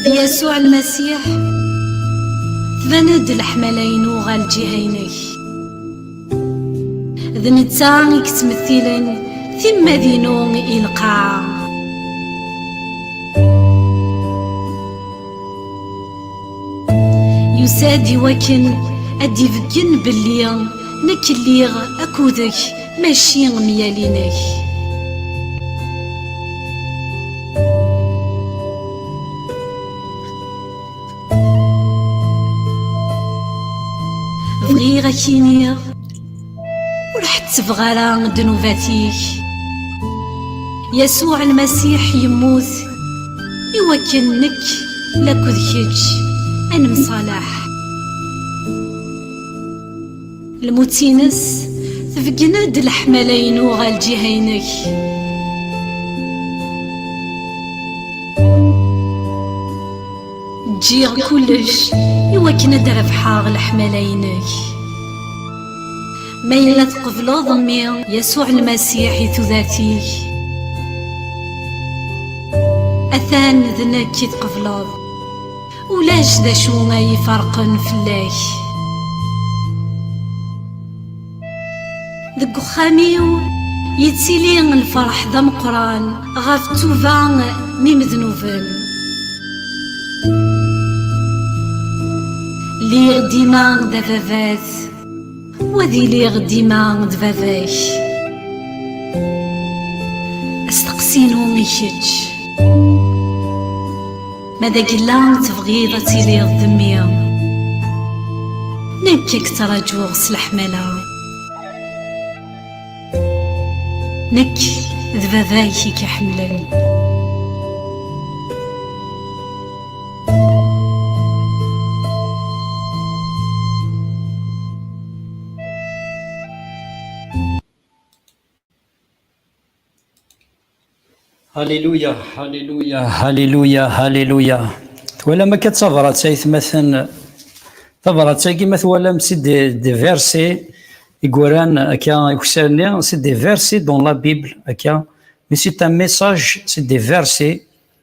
S2: D Yasuɛ Lmasiḥ, tban-d leḥmala-inu ɣer lǧiha-inek. D netta i yettmettilen timmad-inu i lqaɛa. Yusa-d i wakken ad d-ibeggen belli nekk lliɣ akkudek mačči myal-inek. Bɣiɣ ad ak-iniɣ. Ur ḥettbeɣ ara ddnubat-ik Yasuɛ lmasiḥ yemmut i wakken nekk lakud kečč ad nemsalaḥ lmut-ines tbeggen-d leḥmala-inu ɣer lǧiha-inek Ǧǧiɣ kullec i wakken ad d-rebḥeɣ leḥmala-inek. Ma yella tqebleḍ mmi Yasuɛ Lmasiḥ i tudert-ik, atan d nekk i tqebleḍ. Ulac d acu ay iferqen fell-ak. Deg uxxam-iw yettili lferḥ d ameqqran ɣef ttuba n imednuben. Lliɣ dima d ababat, u ad iliɣ dima d baba-k. Asteqsi-inu i kečč. Ma d agella tebɣiḍ ad tiliḍ d mmi Nekk i k-ttṛaǧuɣ s leḥmala Nekk d baba-k i k-iḥemmlen
S1: Haliluya, haliluya, haliluya, haliluya. Twalam akka tabrat ay tmaten, tabrat-agi ma twalam si des versets i yuran akka ikessar-nni, c'est des versets dans la Bible akka, mais c'est un message, c'est des versets.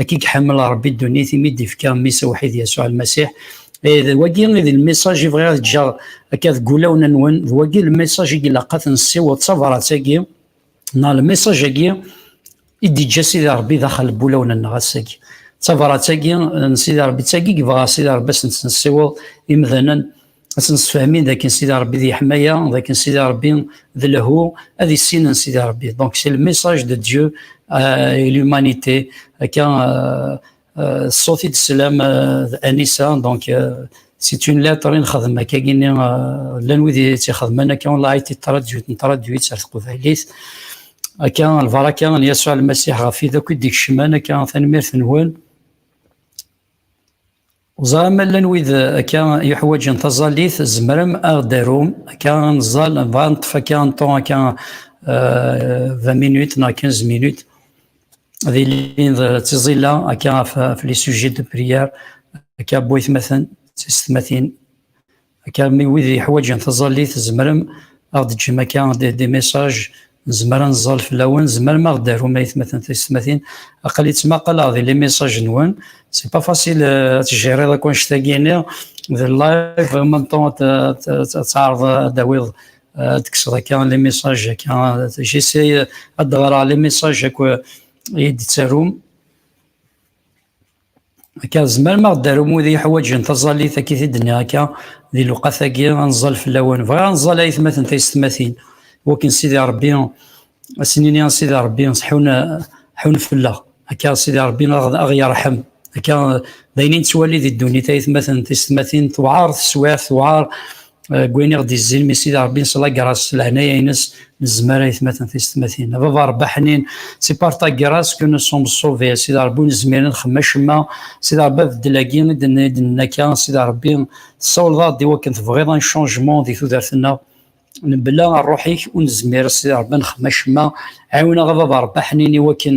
S1: Akka i iḥemmel Ṛebbi ddunit imi d-ifka mmi-s awḥid Yasuɛ Lmasiḥ. Eh, d wagi i d lmisaǧ i bɣiɣ ad ǧǧeɣ akka deg wulawen-nwen, d wagi lmisaǧ i ilaq ad ten-nessiweḍ, d tabṛat-agi neɣ lmisaǧ-agi i d-iǧǧa Sidi Ṛebbi daxel n wulawen-nneɣ ass-agi. D tabṛat-agi n Sidi Ṛebbi, d tagi i yebɣa Sidi Ṛebbi ad sen-tt-nessiweḍ imdanen, ad nsefhamin dakken Sidi Rebbi d yeḥmaya dakken Sidi Rebbi d lehwu ad issinen Sidi Rebbi donc c'est le message de Dieu euh, et l'humanité akka euh, euh, ṣṣut i d-teslam Anisa donc c'est une lettre i nxedm akka gini llan wid yettixedmen akka on l'a été traduite traduite ar teqbaylit akka lbaraka n Yasuɛ Lmasiḥ ɣef wid akk i d-ikecmen akka tanemmirt-nwen Ẓra ma llan wid akka yuḥwaǧen taẓallit, tzemrem ad ɣ-d-arum akka ad nẓal, nebɣa ad neṭṭef akka un temps akka 20 minutes neɣ 15 minutes ad ilin d tiẓilla akka ɣef les sujets de prière akka bu-aytmaten d tiysetmatin Akka mi wid yeḥwaǧen taẓallit zemrem ad ɣ-d-ǧem akka des messages nezmer ad nẓal fell-awen, zemrem ad ɣ-d-tarum aytmaten tiysetmatin, aql-i ttmaqaleɣ di les messages nwen, c'est pas facile euh, ad tjiriḍ akk annect-agi-nni d live en même temps ad tɛerḍ ad tawiḍ euh, ad tekkseḍ akka les messages akka j'essaie ad d-ɣreɣ les messages akk i d-tarum Akka, tzemrem ad aɣ-d-tarum wid yeḥwaǧen taẓallit akka i t-id-nniɣ akka, di lewqat-agi, ad nẓal fell-awen. Bɣiɣ ad nẓal ayetmaten taysetmatin, wakken Sidi Ṛebbi, ad sen-nini a Sidi Ṛebbi, ḥun, ḥun fell-aɣ. Akka, Sidi Ṛebbi ad aɣ-yerḥem. Akka, d ayen i nettwali di ddunit, ayetmaten tisetmatin, tewɛeṛ teswiɛt, tewɛeṛ Gwin i ɣ-d-izzin mi Sidi Rebbi neslager-as s leɛnaya-ines nezmer ayetmaten tiysetmatin. A baba Rebbi aḥnin, si par ta guerra ce que nous sommes sauvés, a Sidi Rebbi ur nezmir ad nexdem acemma, Sidi Rebbi abeddel-agi i d-nenna akka, a Sidi Rebbi tessawleḍ-aɣ-d i wakken tebɣiḍ un changement di tudert-nneɣ, mebla rruḥ-ik ur nezmir a Sidi Rebbi ad nexdem acemma, ɛiwen-aɣ a baba Rebbi aḥnin i wakken.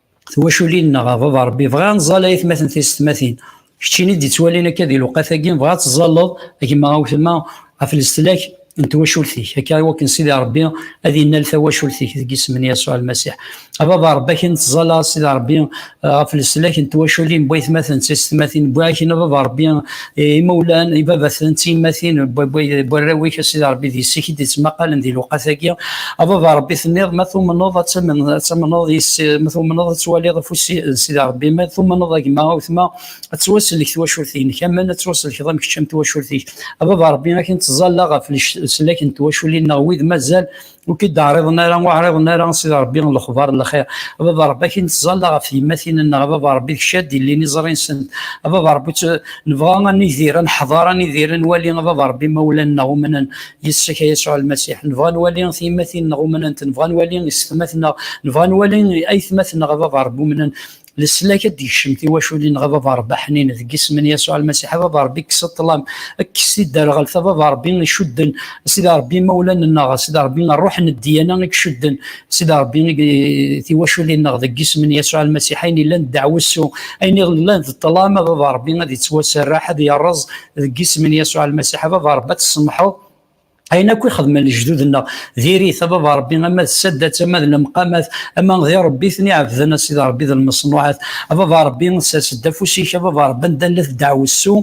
S1: twaculin-nneɣ, a baba Rebbi, bɣiɣ ad nẓal ay atmaten tisetmatin, keččini d-ittwalin akka di lewqat-agi, bɣiɣ ad tẓalleḍ a gma awtma ɣef leslak n twacult-ik, akka i wakken Sidi Rebbi ad innal tawacult-ik deg isem n Yasuɛ Lmasiḥ. A baba Rebbi, akken tẓalla a Sidi Rebbi ɣef leslak n twaculin n waytmaten d tisetmatin, wwiɣ akin a baba Rebbi imawlan, ibabaten, d tiyemmatin, n warraw-ik, a Sidi Ṛebbi, d yessi-k i d-ittmaqalen di lewqat-agi. A Baba Ṛebbi, tenniḍ, Ma tumneḍ ad tamneḍ yis-s, ma tumneḍ ad twaliḍ afus n Sidi Ṛebbi, ma tumneḍ a gma, a wetma, ad tettwasellek twacult-inek, amen ad tettwasellkeḍ am kečč, am twacult-ik. A Baba Ṛebbi, akken ttẓallaɣ ɣef leslak n twaculin-nneɣ, wid mazal ur k-id-ɛriḍen ara, ur ɛriḍen ara Sidi Ṛebbi lexbaṛ n lxiṛ. A Baba Ṛebbi, akin nettẓalla ɣef tyemmatin-nneɣ, a Baba Ṛebbi, d kečč ara d-ilin iẓri-nsent, a Baba Ṛebbi, nebɣa ad nidir, ad neḥḍeṛ, ad nidir, ad nwali, a Baba Ṛebbi, imawlan-nneɣ umnen yis-k, a Yasuɛ Lmasiḥ, nebɣa ad nwali tyemmatin-nneɣ umnent, nebɣa ad nwali isetma-tneɣ, nebɣa ad nwali aytmaten-nneɣ, a Baba Ṛebbi, umnen, leslak ad d-yekcem tiwaculin ɣef baba rebbi aḥnin deg isem n yasuɛ lmasiḥ a baba rebbi kkes ṭṭlam kkes tidderɣelt a baba rebbi icudden sida rebbi imawlan-nneɣ sida rebbi ṛṛuḥ n ddiyana i icudden sida rebbi tiwaculin-nneɣ deg isem n yasuɛ lmasiḥ ayen yellan d ddeɛwessu ayen yellan d ṭṭlam a baba rebbi ad yettwaserreḥ ad yerreẓ deg isem n yasuɛ lmasiḥ a baba rebbi ad tsemḥeḍ ayen akk ixedmen lejdud-nneɣ diri-t ababa rebbi ama d saddat ama d lemqamat ama di rebbi ten iɛebden a sidi rebbi d lmeṣnuɛat ababa rebbi sers-d afus-ik ababa rebbi anda la tedɛwessu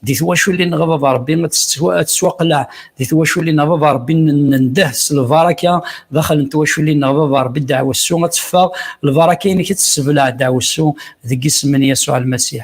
S1: di twaculin neɣ ababa rebbi ad tettwaqleɛ di twaculin ababa rebbi nendeh s lbaraka daxel n twaculin neɣ ababa rebbi dɛwessu ad teffeɣ lbaraka-inek ad tessebleɛ dɛwessu deg isem n Yasuɛ Lmasiḥ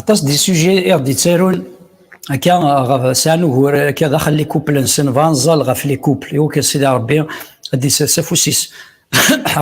S1: Aṭas di sujets i ɣ-d-ittarun akka ɣef sɛan ugur akka daxel li couple-nsen bɣa nẓal ɣef li couple iwuk a Sidi Ṛebbi ad d-isers afus-is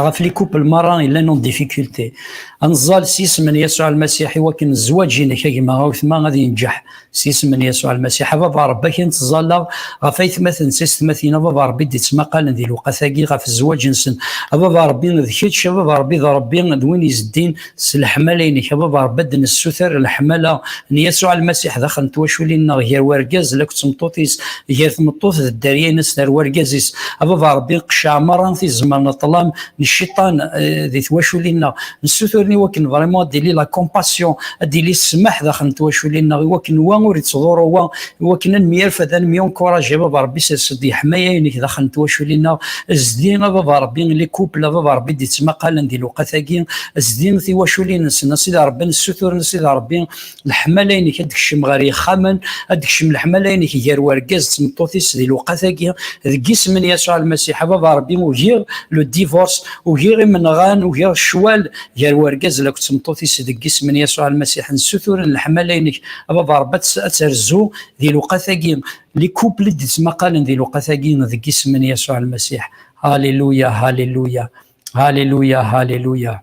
S1: ɣef li couple merra yellan en difficulté. Ad nẓal s yisem n Yasuɛ Lmasiḥ iwakken zzwaǧ-inek a gma, a wetma ad yenǧeḥ. s isem n Yasuɛ Lmasiḥ, a Baba Ṛebbi, akin ttẓallaɣ ɣef aytmaten s yessetmatin, a Baba Ṛebbi, d-ittmaqalen di lewqat-agi ɣef zzwaǧ-nsen, a Baba Ṛebbi, d kečč, a Baba Ṛebbi, d Ṛebbi d win izeddin s leḥmala-inek, a Baba Ṛebbi, ad d-nessuter leḥmala n Yasuɛ Lmasiḥ daxel n twaculin-nneɣ, gar wergaz d akked tmeṭṭut-is, gar tmeṭṭut d dderya-ines ar wergaz-is, a Baba Ṛebbi, qceɛ meṛṛa tizemmar n ṭṭlam n cciṭan eh, di twaculin-nneɣ nessuturen iwakken vraiment ad d-ili la compassion ad d-ili ssmaḥ daxel n twaculin-nneɣ iwakken wa ur ittḍurru wa iwakken ad nemyarfed ad nemyunkuraj a baba rebbi sers-d yeḥmaya-inek daxel n twaculin-nneɣ zdi a baba rebbi li couple a baba rebbi d-ittmaqalen di lewqat-agi zdi tiwaculin-nsen a sidi rebbi nessuturen a sidi rebbi leḥmala-inek ad d-kcem ɣer yexxamen, ad d-kcem leḥmala-inek gar wergaz d tmeṭṭut-is di lewqat-agi, deg yisem n Yasuɛ Lmasiḥ, a Baba Ṛebbi, ugiɣ le divorce, ugiɣ imenɣan, ugiɣ ccwal gar wergaz lakk d tmeṭṭut-is, deg yisem n Yasuɛ Lmasiḥ, nessuturen leḥmala-inek, a Baba Ṛebbi, ad terzu di lewqat-agi, les couples i d-ittmaqalen di lewqat-agi, deg yisem n Yasuɛ Lmasiḥ. Haleluya, haleluya, haleluya, haleluya.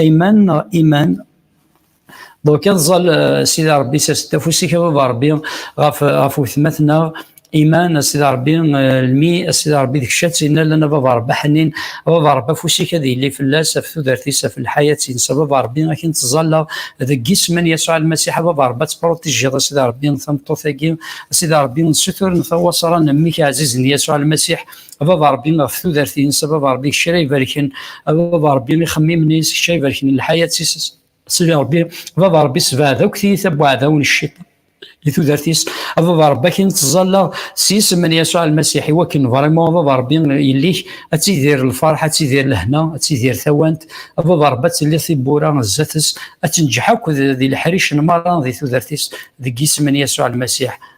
S1: Ayman neɣ Iman donc ad ẓẓal euh, sidi rebbi s as-d afus-ik a baba rebbi ɣef euh, ɣef wetmat-nneɣ iman a sidi rebbi euh, lmi a sidi rebbi deg ccat inna lan a baba rebbi ḥnin a baba rebbi afus-ik ad yili fell-as af tudert-is af lḥayat-ines a baba rebbi akin tẓalleɣ deg yisem-en yasuɛ almasiḥ a baba rebbi ad tepruṭijiḍ a sidi rebbi tameṭṭut-agi a sidi rebbi nessuturen tawaṣra n mmi-k ɛzizen yasuɛ almasiḥ a baba rebbi ɣef tudert-ines a baba rebbi kečč ara ibarken a baba rebbi ixemmimen-is kečč ara ibarken lḥayat-is sidi rebbi baba rebbi sebɛed akk tiyita n uɛdaw n cciṭan di tudert-is a baba rebbi akin ttẓallaɣ s yisem n yasuɛ lmasiḥ i wakken vraiment a baba rebbi yelli-k ad tidir lferḥ ad tidir lehna ad tidir tawant a baba rebbi ad tilli tibbura zdat-s ad tenǧeḥ akk di leḥric n merra di tudert-is deg yisem n yasuɛ lmasiḥ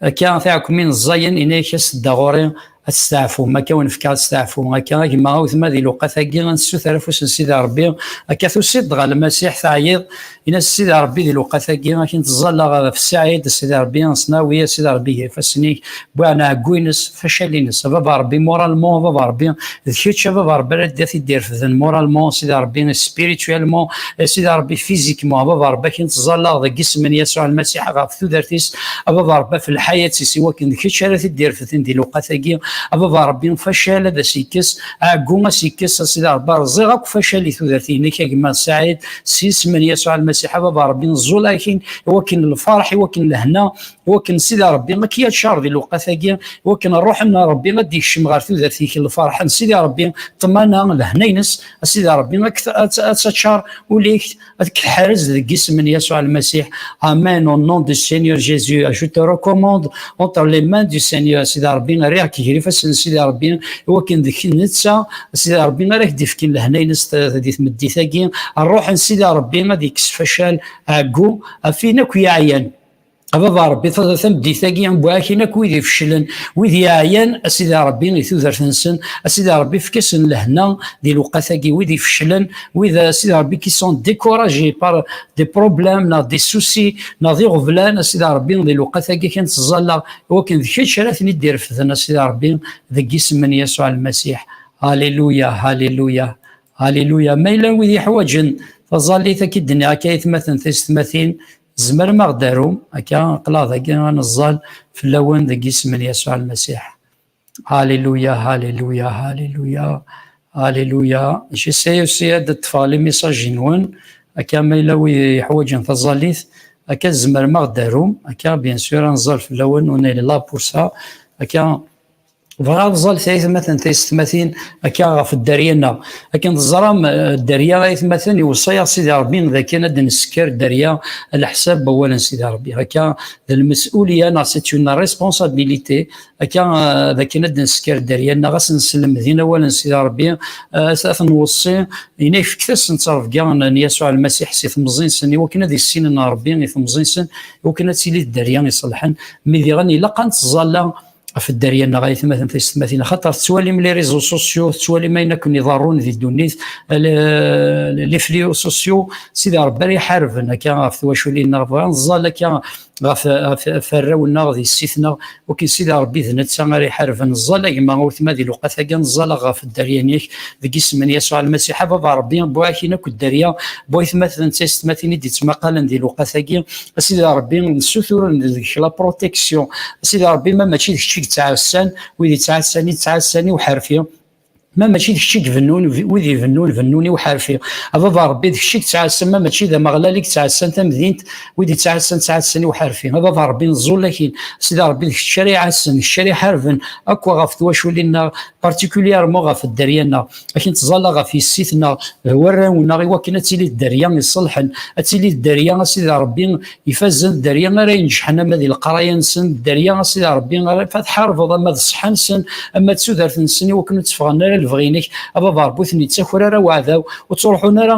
S1: Akka tiɛekmin ẓẓayen inek a s-tedda ɣur-i ad testeɛfum akka wen fkeɣ ad steɛfu akka a gma a wetma di luqat agi a nessuter afus n sidi rebbi akka tusiḍ-d ɣer lmasiḥ teɛyiḍ in-as sidi rebbi di luqat agi akin teẓẓalla ɣef ssaɛid sidi rebbi ansnawi a sidi rebbi ger ifassen-ik bwiɛen ɛeggu-ines facal-ines a baba rebbi moralment a baba rebbi d kečč a baba rebbi ara d-at id-irefden moralment sidi rebbi spirituellement sidi rebbi physiquement a baba rebbi akin tẓallaɣ deg isem n Yasuɛ Lmasiḥ ɣef tudert-is a baba rebbi ɣef lḥayat-is i wakken d kečč ara t-id-irefden di lewqat-agi a baba rebbi facal ad as-ikkes ɛeggu ad as-ikkes a sidi rebbi rẓiɣ akk facal i tudert-inek a gma Saɛid s isem n Yasuɛ Lmasiḥ a baba rebbi nẓul akin i wakken lferḥ i wakken lehna wakken sida rebbi ma kiyat car di lewqat agi wakken ṛṛuḥen n rebbi ad d-ikcem ɣer tudert-ik lferḥen sida rebbi ṭṭmana lehna-ines sida rebbi ad taččar ul-ik ad k-tḥerrez deg isem n Yasuɛ Almasiḥ amen au nom du Seigneur Jésus je te recommande entre les mains du Seigneur sida rebbi rriɣ-k gar ifassen sida rebbi wakken deg netta sida rebbi ara k-d-ifken lehna-ines di tmeddit agi ṛṛuḥen sida rebbi ad ikkes facal ɛeggu afin akk yaɛyan a baba rebbi tameddit-agi bu akin akk wid ifeclen wid yeɛyan a sidi rebbi i tudert-nsen a sidi rebbi efk-asen lehna di lewqat-agi wid ifeclen wid a sidi rebbi qui sont découragés par des problèmes neɣ des soucis neɣ d iɣeblan a sidi rebbi di lewqat-agi kan ttẓallaɣ iwakken d kečč ara ten-id-irefden a sidi rebbi deg isem n Yasuɛ Lmasiḥ Alléluia Alléluia Alléluia ma yella wid yeḥwaǧen taẓallit akka i d-nniɣ akka aytmaten taysetmatin Tzemrem ad aɣ-d-tarum akka aqlaɣ dagi ad neẓẓal fell-awen deg yisem n Yasuɛ Lmasiḥ. Haleluya, haleluya, haleluya, haleluya. J'essaie aussi ad d-ṭṭfeɣ les messages-nwen akka ma yella wid yeḥwaǧen taẓallit akka tzemrem ad aɣ-d-tarum akka bien sûr ad neẓẓal fell-awen on est là pour ça akka bɣiɣ ad ẓẓal taytmaten taysetmatin akka ɣef dderya-nneɣ akken teẓram eh, dderya aytmaten iweṣṣa-yaɣ Sidi Ṛebbi d akken ad nessker dderya leḥsab n wawalen Sidi Ṛebbi akka d lmesulya neɣ c'est une responsabilité akka eh, d akken ad nessker dderya-nneɣ ad nesselmed inawalen Sidi Ṛebbi eh, ad ten-weṣṣi ina ifektasen ttrebga n Yasuɛ Lmasiḥ si temẓi-nsen iwakken ad issinen Ṛebbi i temẓi-nsen iwakken ad tili dderya iṣelḥen mi diɣen ilaq ad nettẓalla ɣef dderya neɣ ay tmaten tisetmatin xaṭer tettwalim les réseaux sociaux tettwalim ayen akken iḍarrun di ddunit les fléaux sociaux sidi rebbi ara iḥarben akka ɣef twaculin-nneɣ bɣa nẓal akka ɣef arraw-nneɣ di ssit-nneɣ ukin sidi rebbi d netta ara iḥarben nẓal a gma weltma di luqat-agi nẓal ɣef dderya-nnek deg isem n Yasuɛ Lmasiḥ a baba rebbi bu-ak-in akk dderya bu-ay tmaten tisetmatin i d-ittmaqalen di luqat-agi a sidi rebbi nessutur deg-k la protection a sidi rebbi ma mačči d kečč i yettɛassan wid yettɛassan yettɛassan i uḥerfi ma mačči d kečč i ibennun wid ibennun bennun i uḥerfi a baba rebbi d kečč i yettɛassan ma mačči d ameɣlal i yettɛassan tamdint wid yettɛassan ttɛassan i uḥerfi a baba rebbi neẓẓul akin a sidi rebbi d kečč ara iɛassen d kečč ara iḥarben akk ɣef twaculin-nneɣ particulièrement ɣef dderya-nneɣ akken teẓalla ɣef yessit neɣ d warraw neɣ iwakken ad tili dderya iṣelḥen ad tili dderya a sidi rebbi ifazen dderya ara inejḥen ama di leqraya-nsen dderya a sidi rebbi ara tḥarbeḍ ama d ṣṣeḥa-nsen ama d tudert-nsen iwakken ur tteffɣen ara lebɣi-inek a baba rebbi ur ten-yettaker ara waɛdaw ur ttruḥun ara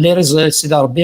S1: liriẓ sidi rebbi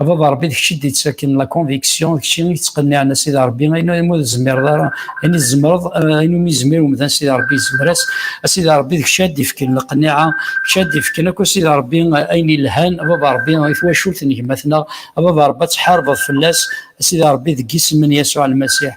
S1: A baba Rebbi d kečč i d-yettaken la conviction, d kečč i yettqenniɛen a Sidi Rebbi, ayen umi tzemreḍ ara, ayen i tzemreḍ, ayen umi yezmir umdan Sidi Rebbi yezmer-as, a Sidi Rebbi d kečč ara d-ifken lqenniɛa, d kečč ara d-ifken akk a Sidi Rebbi ayen yelhan, a baba Rebbi i twacult n gma-tneɣ, a baba Rebbi ad tḥarbeḍ fell-as, a Sidi Rebbi deg yisem n Yasuɛ Lmasiḥ,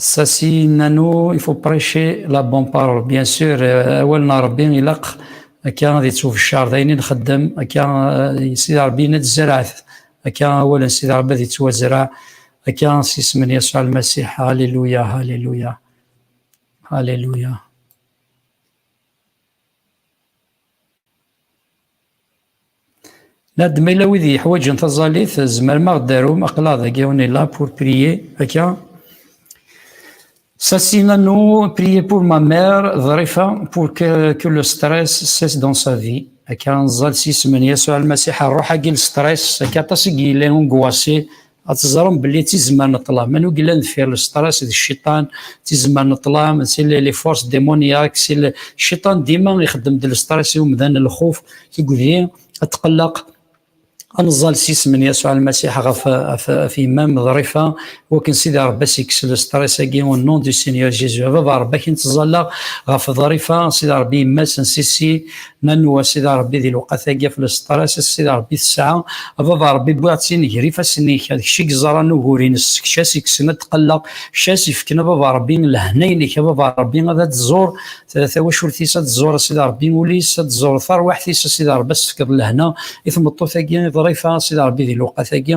S1: Sasi Nano, il faut prêcher la bonne parole. Bien sûr, euh, awal na Rabbi ilaq akka ad yettwebeccar d ayen i nxeddem, akka euh, Sidi Rabbi ad tzerɛet, akka awal n Sidi Rabbi ad yettwazra, akka s isem n Yasuɛ Lmasiḥ, Halleluya, Halleluya, Halleluya. Là-d ma yella wid yeḥwaǧen taẓallit, tzemrem ad aɣ-d-tarum, aql-aɣ dagi, on est là pour prier, akka. Sassi Nanou, prier pour ma mère, Ḍrifa, pour que, que le stress cesse dans sa vie. Akka, neẓẓal s yisem n Yasuɛ Lmasiḥ, rruḥ-agi n stress, akka aṭas i yellan unguwasi ad teẓrem belli d tizemmar n ṭṭlam anwa i yellan deffir lestress d cciṭan d tizemmar n ṭṭlam si les forces démoniaques si le cciṭan dima ixeddem-d lestress i umdan lxuf tuggdi atqelleq ad neẓẓal s isem n Yasuɛ Lmasiḥ ɣef ɣef yemma-m ḍrifa wakken Sidi Ṛebbi ad s-yekkes lestress-agi au nom du Seigneur Jésus. A baba Ṛebbi akin tẓallaɣ ɣef ḍrifa Sidi Ṛebbi yemma-s n Sisi ma nwa Sidi Rebbi di lewqat-agi ɣef lesṭer-as, a Sidi Rebbi tesɛa, a Baba Rebbi wwiɣ-tt-in ger ifassen-ik, d kečč i yeẓran ugur-ines, d kečč as yekksen ad tqelleq, d kečč as yefken a Baba Rebbi lehna-inek, a Baba Rebbi ad d-tẓur tawacult-is, ad d-tẓur a Sidi Rebbi ul-is, ad d-tẓur tarwiḥt-is a Sidi Rebbi, ad s-tefkeḍ lehna i tmeṭṭut-agi ḍrifa a Sidi Rebbi di lewqat-agi,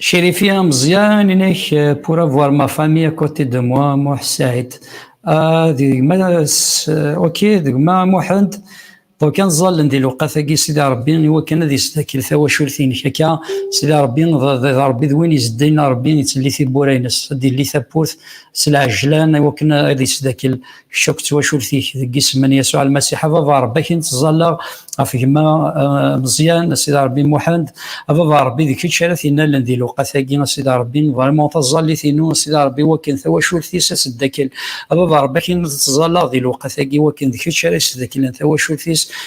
S1: Chérifi Ameẓyan, inek, euh, pour avoir ma famille à côté de moi, Mouh Saïd. Euh, euh, ok, degma Mouhend, donc un zal ndi luqatagi sidi Rabbi, iwa kan ad yestakil tawacult-inek akka, sidi Rabbi, Rabbi d win izeddayen Rabbi, yettili tibbura-ines, ad yelli tawwurt s lɛejlan, iwa kan ad yesdakil kečč akk twacult-ik deg isem n Yasuɛ Almasiḥ, a baba Ṛebbi akin ttẓallaɣ ɣef gma eh, Meẓyan, a Sidi Ṛebbi Muḥend, a baba Ṛebbi d kečč ara t-innalen di lewqat-agi, a Sidi Ṛebbi, vraiment taẓallit-inu, a Sidi Ṛebbi wakken tawacult-is ad teddakel, a baba Ṛebbi akin ttẓallaɣ di lewqat-agi wakken d kečč ara yesdeklen tawacult-is,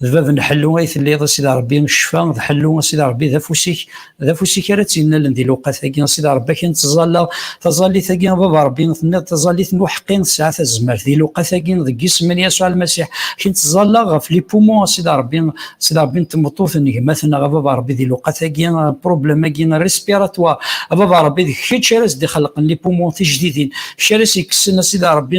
S1: d bab n ḥellu ay telliḍ a sidi rebbi ccfa d ḥellu a sidi rebbi d afus-ik d afus-ik ara tt-yennalen di lewqat-agi a sidi rebbi akin ttẓallaɣ taẓallit-agi a baba rebbi tenniḍ taẓallit n uḥeqqi tesɛa tazmert di lewqat-agi deg isem n yasuɛ lmasiḥ akin ttẓallaɣ ɣef lipumu a sidi rebbi a sidi rebbi n tmeṭṭut n gma-tneɣ a baba rebbi di lewqat-agi problème-agi respiratoire a baba rebbi d kečč ara s-d-ixelqen lipumu tijdidin kečč ara s-yekksen a sidi rebbi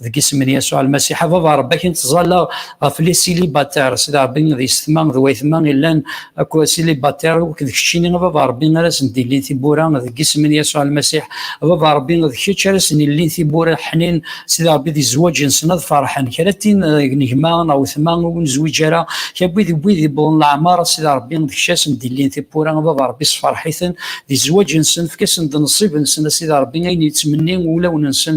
S1: deg isem n Yasuɛ Almasiḥ, a Baba Ṛebbi, akin ttẓallaɣ ɣef li silibater, Sidi Ṛebbi, d yessetma d wayetma illan akk silibater, akk d keččini, a Baba Ṛebbi, ara sen-d-illin tiwwura, deg isem n Yasuɛ Almasiḥ, a Baba Ṛebbi, d kečč ara sen-illin tiwwura ḥnin, Sidi Ṛebbi, di zzwaǧ-nsen ad ferḥen, kra tin deg n gma neɣ wetma ur nezwiǧ ara, kra n wid i wid yewwḍen leɛmeṛ, a Sidi Ṛebbi, d kečč ara sen-d-illin tiwwura, a Baba Ṛebbi, sferḥ-iten di zzwaǧ-nsen, efk-asen-d nnṣib-nsen, a Sidi Ṛebbi, ayen yettmenni wulawen-nsen,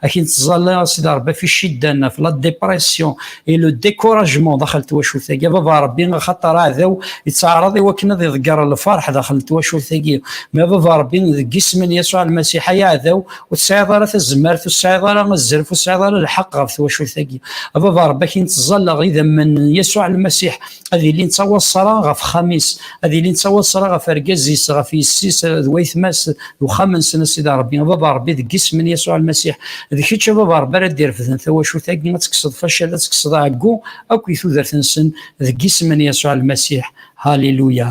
S1: akin tẓalla a sidi rebbi fi ciddan ɣef la dépression et le découragement daxel twacult-agi baba rebbi axaṭer aɛdaw yettaɛraḍ iwakken ad iḍegger lferḥ daxel twacult-agi ma baba rebbi deg isem n Yasuɛ Lmasiḥ ay aɛdaw ur tesɛiḍ ara tazmert ur tesɛiḍ ara azref ur tesɛiḍ ara lḥeqq ɣef twacult-agi a baba rebbi akin tẓalla idammen n Yasuɛ Lmasiḥ ad ilin ttawaṣṣara ɣef xxam-is, ad ilin ttawaṣṣara ɣef argaz-is, ɣef yessi-s d waytma-s d uxxam-nsen, a Sidi Rebbi, a Baba Rebbi, deg yisem n Yasuɛ Lmasiḥ, d kečč a Baba Rebbi ara d-irefden tawacult-agi, ad tekkseḍ facal, ad tekkseḍ ɛeggu akk i tudert-nsen, deg yisem n Yasuɛ Lmasiḥ, Haliluya!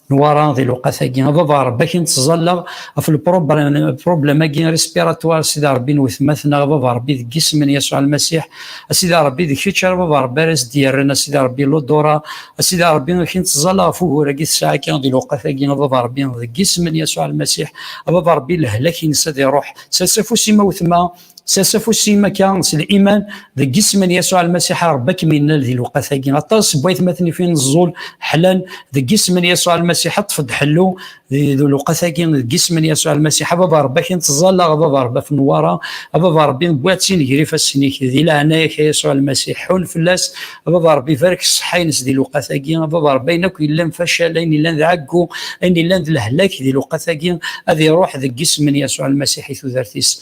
S1: Nwara di lewqat-agi, a baba Ṛebbi ak i nettẓalla ɣef lpṛublem-agi respiratoire, Sidi Ṛebbi n wetma-tneɣ, a baba Ṛebbi deg isem n Yasuɛ Lmasiḥ, a Sidi Ṛebbi d kečč ara baba Ṛebbi ara as-d-yerren, a Sidi Ṛebbi Lodora, a Sidi Ṛebbi ak i nettẓalla ɣef ugur-agi tesɛa akka di lewqat-agi, a baba Ṛebbi deg isem n Yasuɛ Lmasiḥ, a baba Ṛebbi lehlak-ines ad iṛuḥ, sers afus-im a wetma. Sers afus-im akka s liman deg isem n Yasuɛ Lmasiḥ a Rebbi ad kem-innal di lewqat-agi. Aṭas n waytmaten ifin ẓẓul ḥlan deg isem n Yasuɛ Lmasiḥ ṭṭef-d ḥellu di lewqat-agi deg isem n Yasuɛ Lmasiḥ. A Baba Rebbi akin tẓallaɣ a Baba Rebbi af Newwara a Baba Rebbi wwiɣ-tt-in ger ifassen-ik di leɛnaya-k a Yasuɛ Lmasiḥ ḥunn fell-as a Baba Rebbi barek ṣṣeḥḥa-ines di lewqat-agi a Baba Rebbi ayen akk yellan facal ayen yellan d ɛeggu ayen yellan d lehlak di lewqat-agi ad iruḥ deg isem n Yasuɛ Lmasiḥ i tudert-is.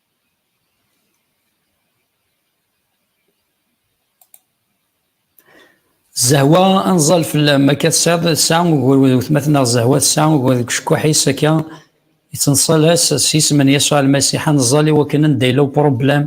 S1: Zehwa anẓal fell-am akka tesɛiḍ tesɛa ugur d wetmaten-nneɣ Zehwa tesɛa ugur deg ucekkuḥ-is akka yettneṣṣal-as s yisem n Yasuɛ Lmasiḥ anẓal i wakken anda yella upṛublem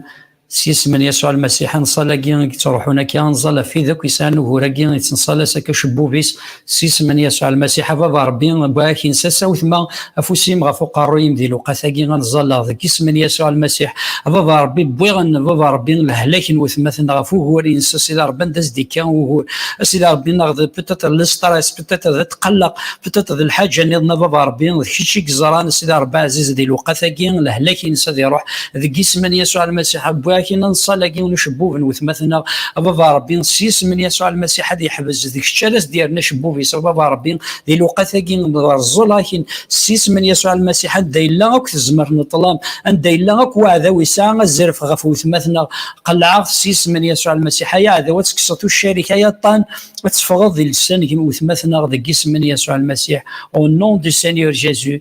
S1: s yisem n Yasuɛ Lmasiḥ anṣal-agi i yettruḥun akka anẓal ɣef wid akk yesɛan ugur-agi yettneṣṣal-as akka ucebbub-is s isem n Yasuɛ Lmasiḥ, a Baba Ṛebbi, wwiɣ-ak insas, a wetma, afus-im ɣef uqerruy-im di lewqat-agi, ad ẓẓalleɣ deg isem n Yasuɛ Lmasiḥ, a Baba Ṛebbi, wwiɣ, a Baba Ṛebbi, lehlak n wetma-ten ɣef wugur, yens, a Sidi Ṛebbi, anda as-d-ikka wugur, a Sidi Ṛebbi, neɣ d peut-être le stress, peut-être d tqelleq, peut-être d lḥaǧa-nniḍen, a Baba Ṛebbi, d kečč i yeẓran, a Sidi Ṛebbi ɛziz, di lewqat-agi, lehlak-ines ad iṛuḥ. deg yisem n Yasuɛ Almasiḥ, wwi akkin ad nṣal agi n ucebbub n wetmaten-nneɣ, a Baba Rebbi, s yisem n Yasuɛ Almasiḥ ad yeḥbes, d kečč ara s-d-yerren acebbub-is, a Baba Rebbi, di lewqat-agi n rẓul akkin, s yisem n Yasuɛ Almasiḥ, anda yella akk tezmert n ṭṭlam, anda yella akk weɛdaw yesɛa azref ɣef wetmaten-nneɣ, qellɛeɣ-t s yisem n Yasuɛ Almasiḥ, ay aɛdaw ad tekkseḍ tuccar-ik, ay aṭṭan ad teffɣeḍ di llesan n wetmaten-nneɣ, deg yisem n Yasuɛ Almasiḥ, au nom du Seigneur Jésus,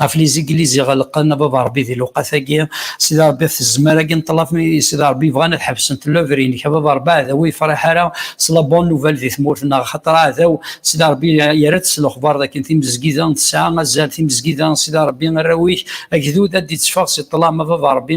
S1: ɣef liziglizi ɣelqen a baba rebbi di lewqat-agi sidi rebbi ɣef tezmar-agi n ṭṭlaf mi sidi rebbi bɣan ad ḥebsent lövr-inek a baba rebbi aɛdaw ur yefṛiḥ ara s la bonne nouvelle di tmurt-nneɣ axaṭer aɛdaw sidi rebbi yerra-d s lexbar d akken timezgida tesɛa azal timezgida sidi rebbi arraw-ik agdud ad d-itteffeɣ si ṭṭlam a baba rebbi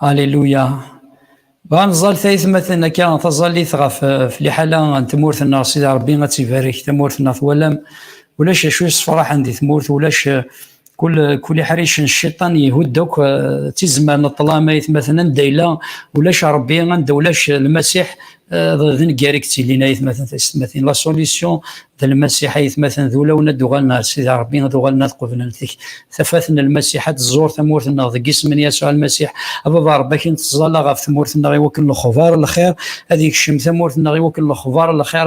S1: Alléluia. Bɣa nẓal tayetmaten akka taẓallit ɣef eh, liḥala n tmurt-nneɣ sida Rebbi ad tibarek tamurt-nneɣ twalam ulac acu yessefraḥen di tmurt ulac eh, kul kul iḥricen cciṭan yehud akk eh, tizmar n ṭṭlam ayetmaten anda yella ulac Rebbi anda ulac lmasiḥ d nnger i yettilin ayetmaten taysetmatin la solution d lmasiḥ ayetmaten d ulawen ad d-uɣalen ar sida rebbi ad uɣalen ad qeblen tik tafat n lmasiḥ ad tẓur tamurt-nneɣ deg isem n yasuɛ lmasiḥ ababa rebbi akin teẓẓala ɣef tmurt-nneɣ i wakken lexbar lxir ad yekcem tamurt-nneɣ i wakken lexbar lxir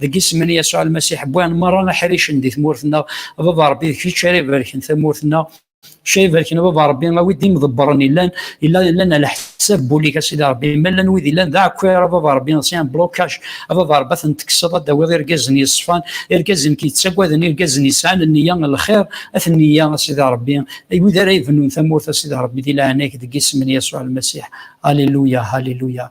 S1: deg isem n Yasuɛ Almasiḥ, wwan merra aḥricen di tmurt-nneɣ, a baba Rebbi d kečč ara ibarken tamurt-nneɣ, kečč ara ibarken a baba Rebbi, a wi d imḍebbren illan, illan, illan ala ḥsab bul-ik a sidi Rebbi, ma llan wid illan d aɛekkar a baba Rebbi, si un blocage, a baba Rebbi ad ten-tekkseḍ, ad d-tawiḍ irgazen yeṣfan, irgazen k-yettaggaden, irgazen yesɛan nniya n lxir, at nniya a sidi Rebbi, ay wid ara ibennun tamurt a sidi Rebbi di leɛnaya-k deg isem n Yasuɛ Almasiḥ, Alléluia, Alléluia.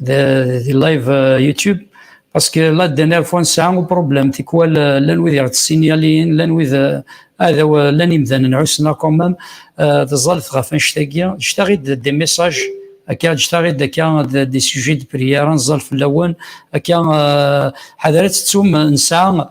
S1: di live euh, YouTube parce que la dernière fois نسعى un problème tikwal euh, lan wid iɣ tessinyalin lan wid adaw euh, lan imdanen ɛussen quand même teẓẓalet ɣef annect-agi jtaɣ-id des messages akka jtaɣ-id akka des sujets de prière nẓal fell-awen akka ḥadaret tettum nesɛa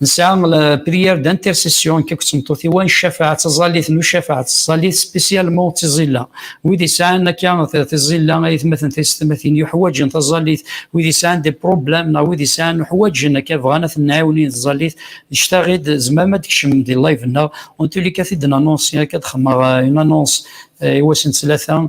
S1: Nesɛa la prière d'intercession kif tmeṭṭut-iw, cafeɛa taẓallit n ucafeɛ, taẓallit spécialement d tiẓilla. Wid yesɛan akka tiẓilla ay atmaten taysetmatin yuḥwaǧen taẓallit, wid yesɛan des problèmes neɣ wid yesɛan uḥwaǧen akka bɣan ad ten-nɛiwnin taẓallit, cctaɣ-id tzemrem ad tkecmem di live-nneɣ, en tous les cas ad t-id-nanonsi, akka ad xedmeɣ une annonce i wass n ttlata,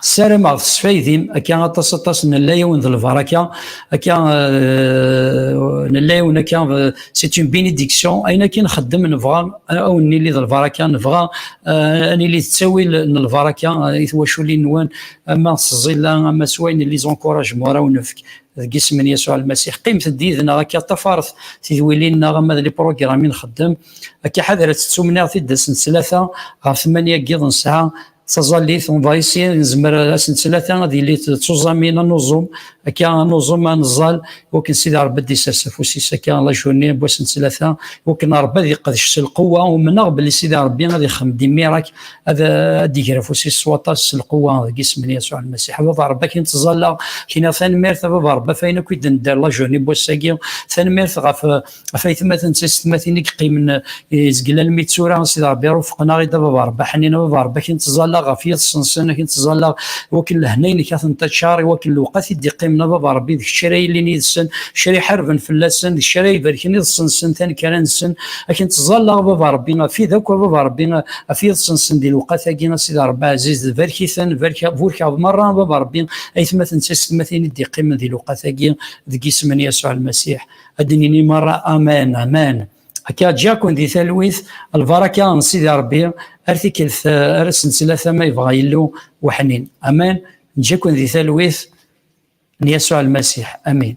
S1: ssarameɣ tesfaydim akka aṭas aṭas nella yawen d lbaraka akka euh, nella yawen akka euh, c'est une bénédiction ayen akin nxeddem nebɣa euh, awen nili d lbaraka nebɣa ad nili d ttawil n lbaraka i twaculin-nwen ama s ẓilla ama s wayen les encouragement ara wen-nefk deg isem n Yasuɛ Lmasiḥ qqimet-d yid-neɣ akka ṭafret tidwilin-nneɣ ama d liprogrammi nxeddem akka ḥadret tettumniɣ tiddas n tlata ɣer tmanya n yiḍ nesɛa taẓallit on va essayer nezmer asen tlata ad yili d tuẓamin anuẓum akka anuẓum aneẓẓal wakken sidi rebbi d isers afus-is akka lajuni n wasen tlata wakken rebbi ad yeqdec s lqewwa umneɣ belli sidi rebbi ad ixem dimirak ad ad iger afus-is s waṭas s lqewwa deg isem n yasuɛ lmasiḥ baba rebbi akin tẓalla kina tanemmirt a baba rebbi afayen akk i d-nedder lajuni n wass-agi tanemmirt ɣef ɣef aytmaten d taysetmatin i yeqqimen izgel almi d tura sid rebbi rufqen-aɣ i da baba rebbi ḥnin a baba rebbi akin tẓallaɣ ɣef yiḍes-nsen akin tẓallaɣ wakken lehna-inek ad ten-taččar iwakken lewqat i d-iqqimen a baba rebbi d kečč ara yilin yid-sen kečč ara iḥarben fell-asen d kečč ara ibarken iḍes-nsen tanekkara-nsen akin tẓallaɣ a baba rebbi afid akk a baba rebbi af yiḍes-nsen di lewqat-agi a sidi rebbi ɛziz d barek-iten burkeɣ merra a baba rebbi aytmaten d taysetmatin i d-iqqimen di lewqat-agi deg isem n Yasuɛ Lmasiḥ ad d-nini merra amen amen akka ǧakun di talwit lbaraka n sidi rebbi ar tikkelt ar asen tlata ma yebɣa yillu weḥnin amen ǧakun di talwit n yasuɛ lmasiḥ amin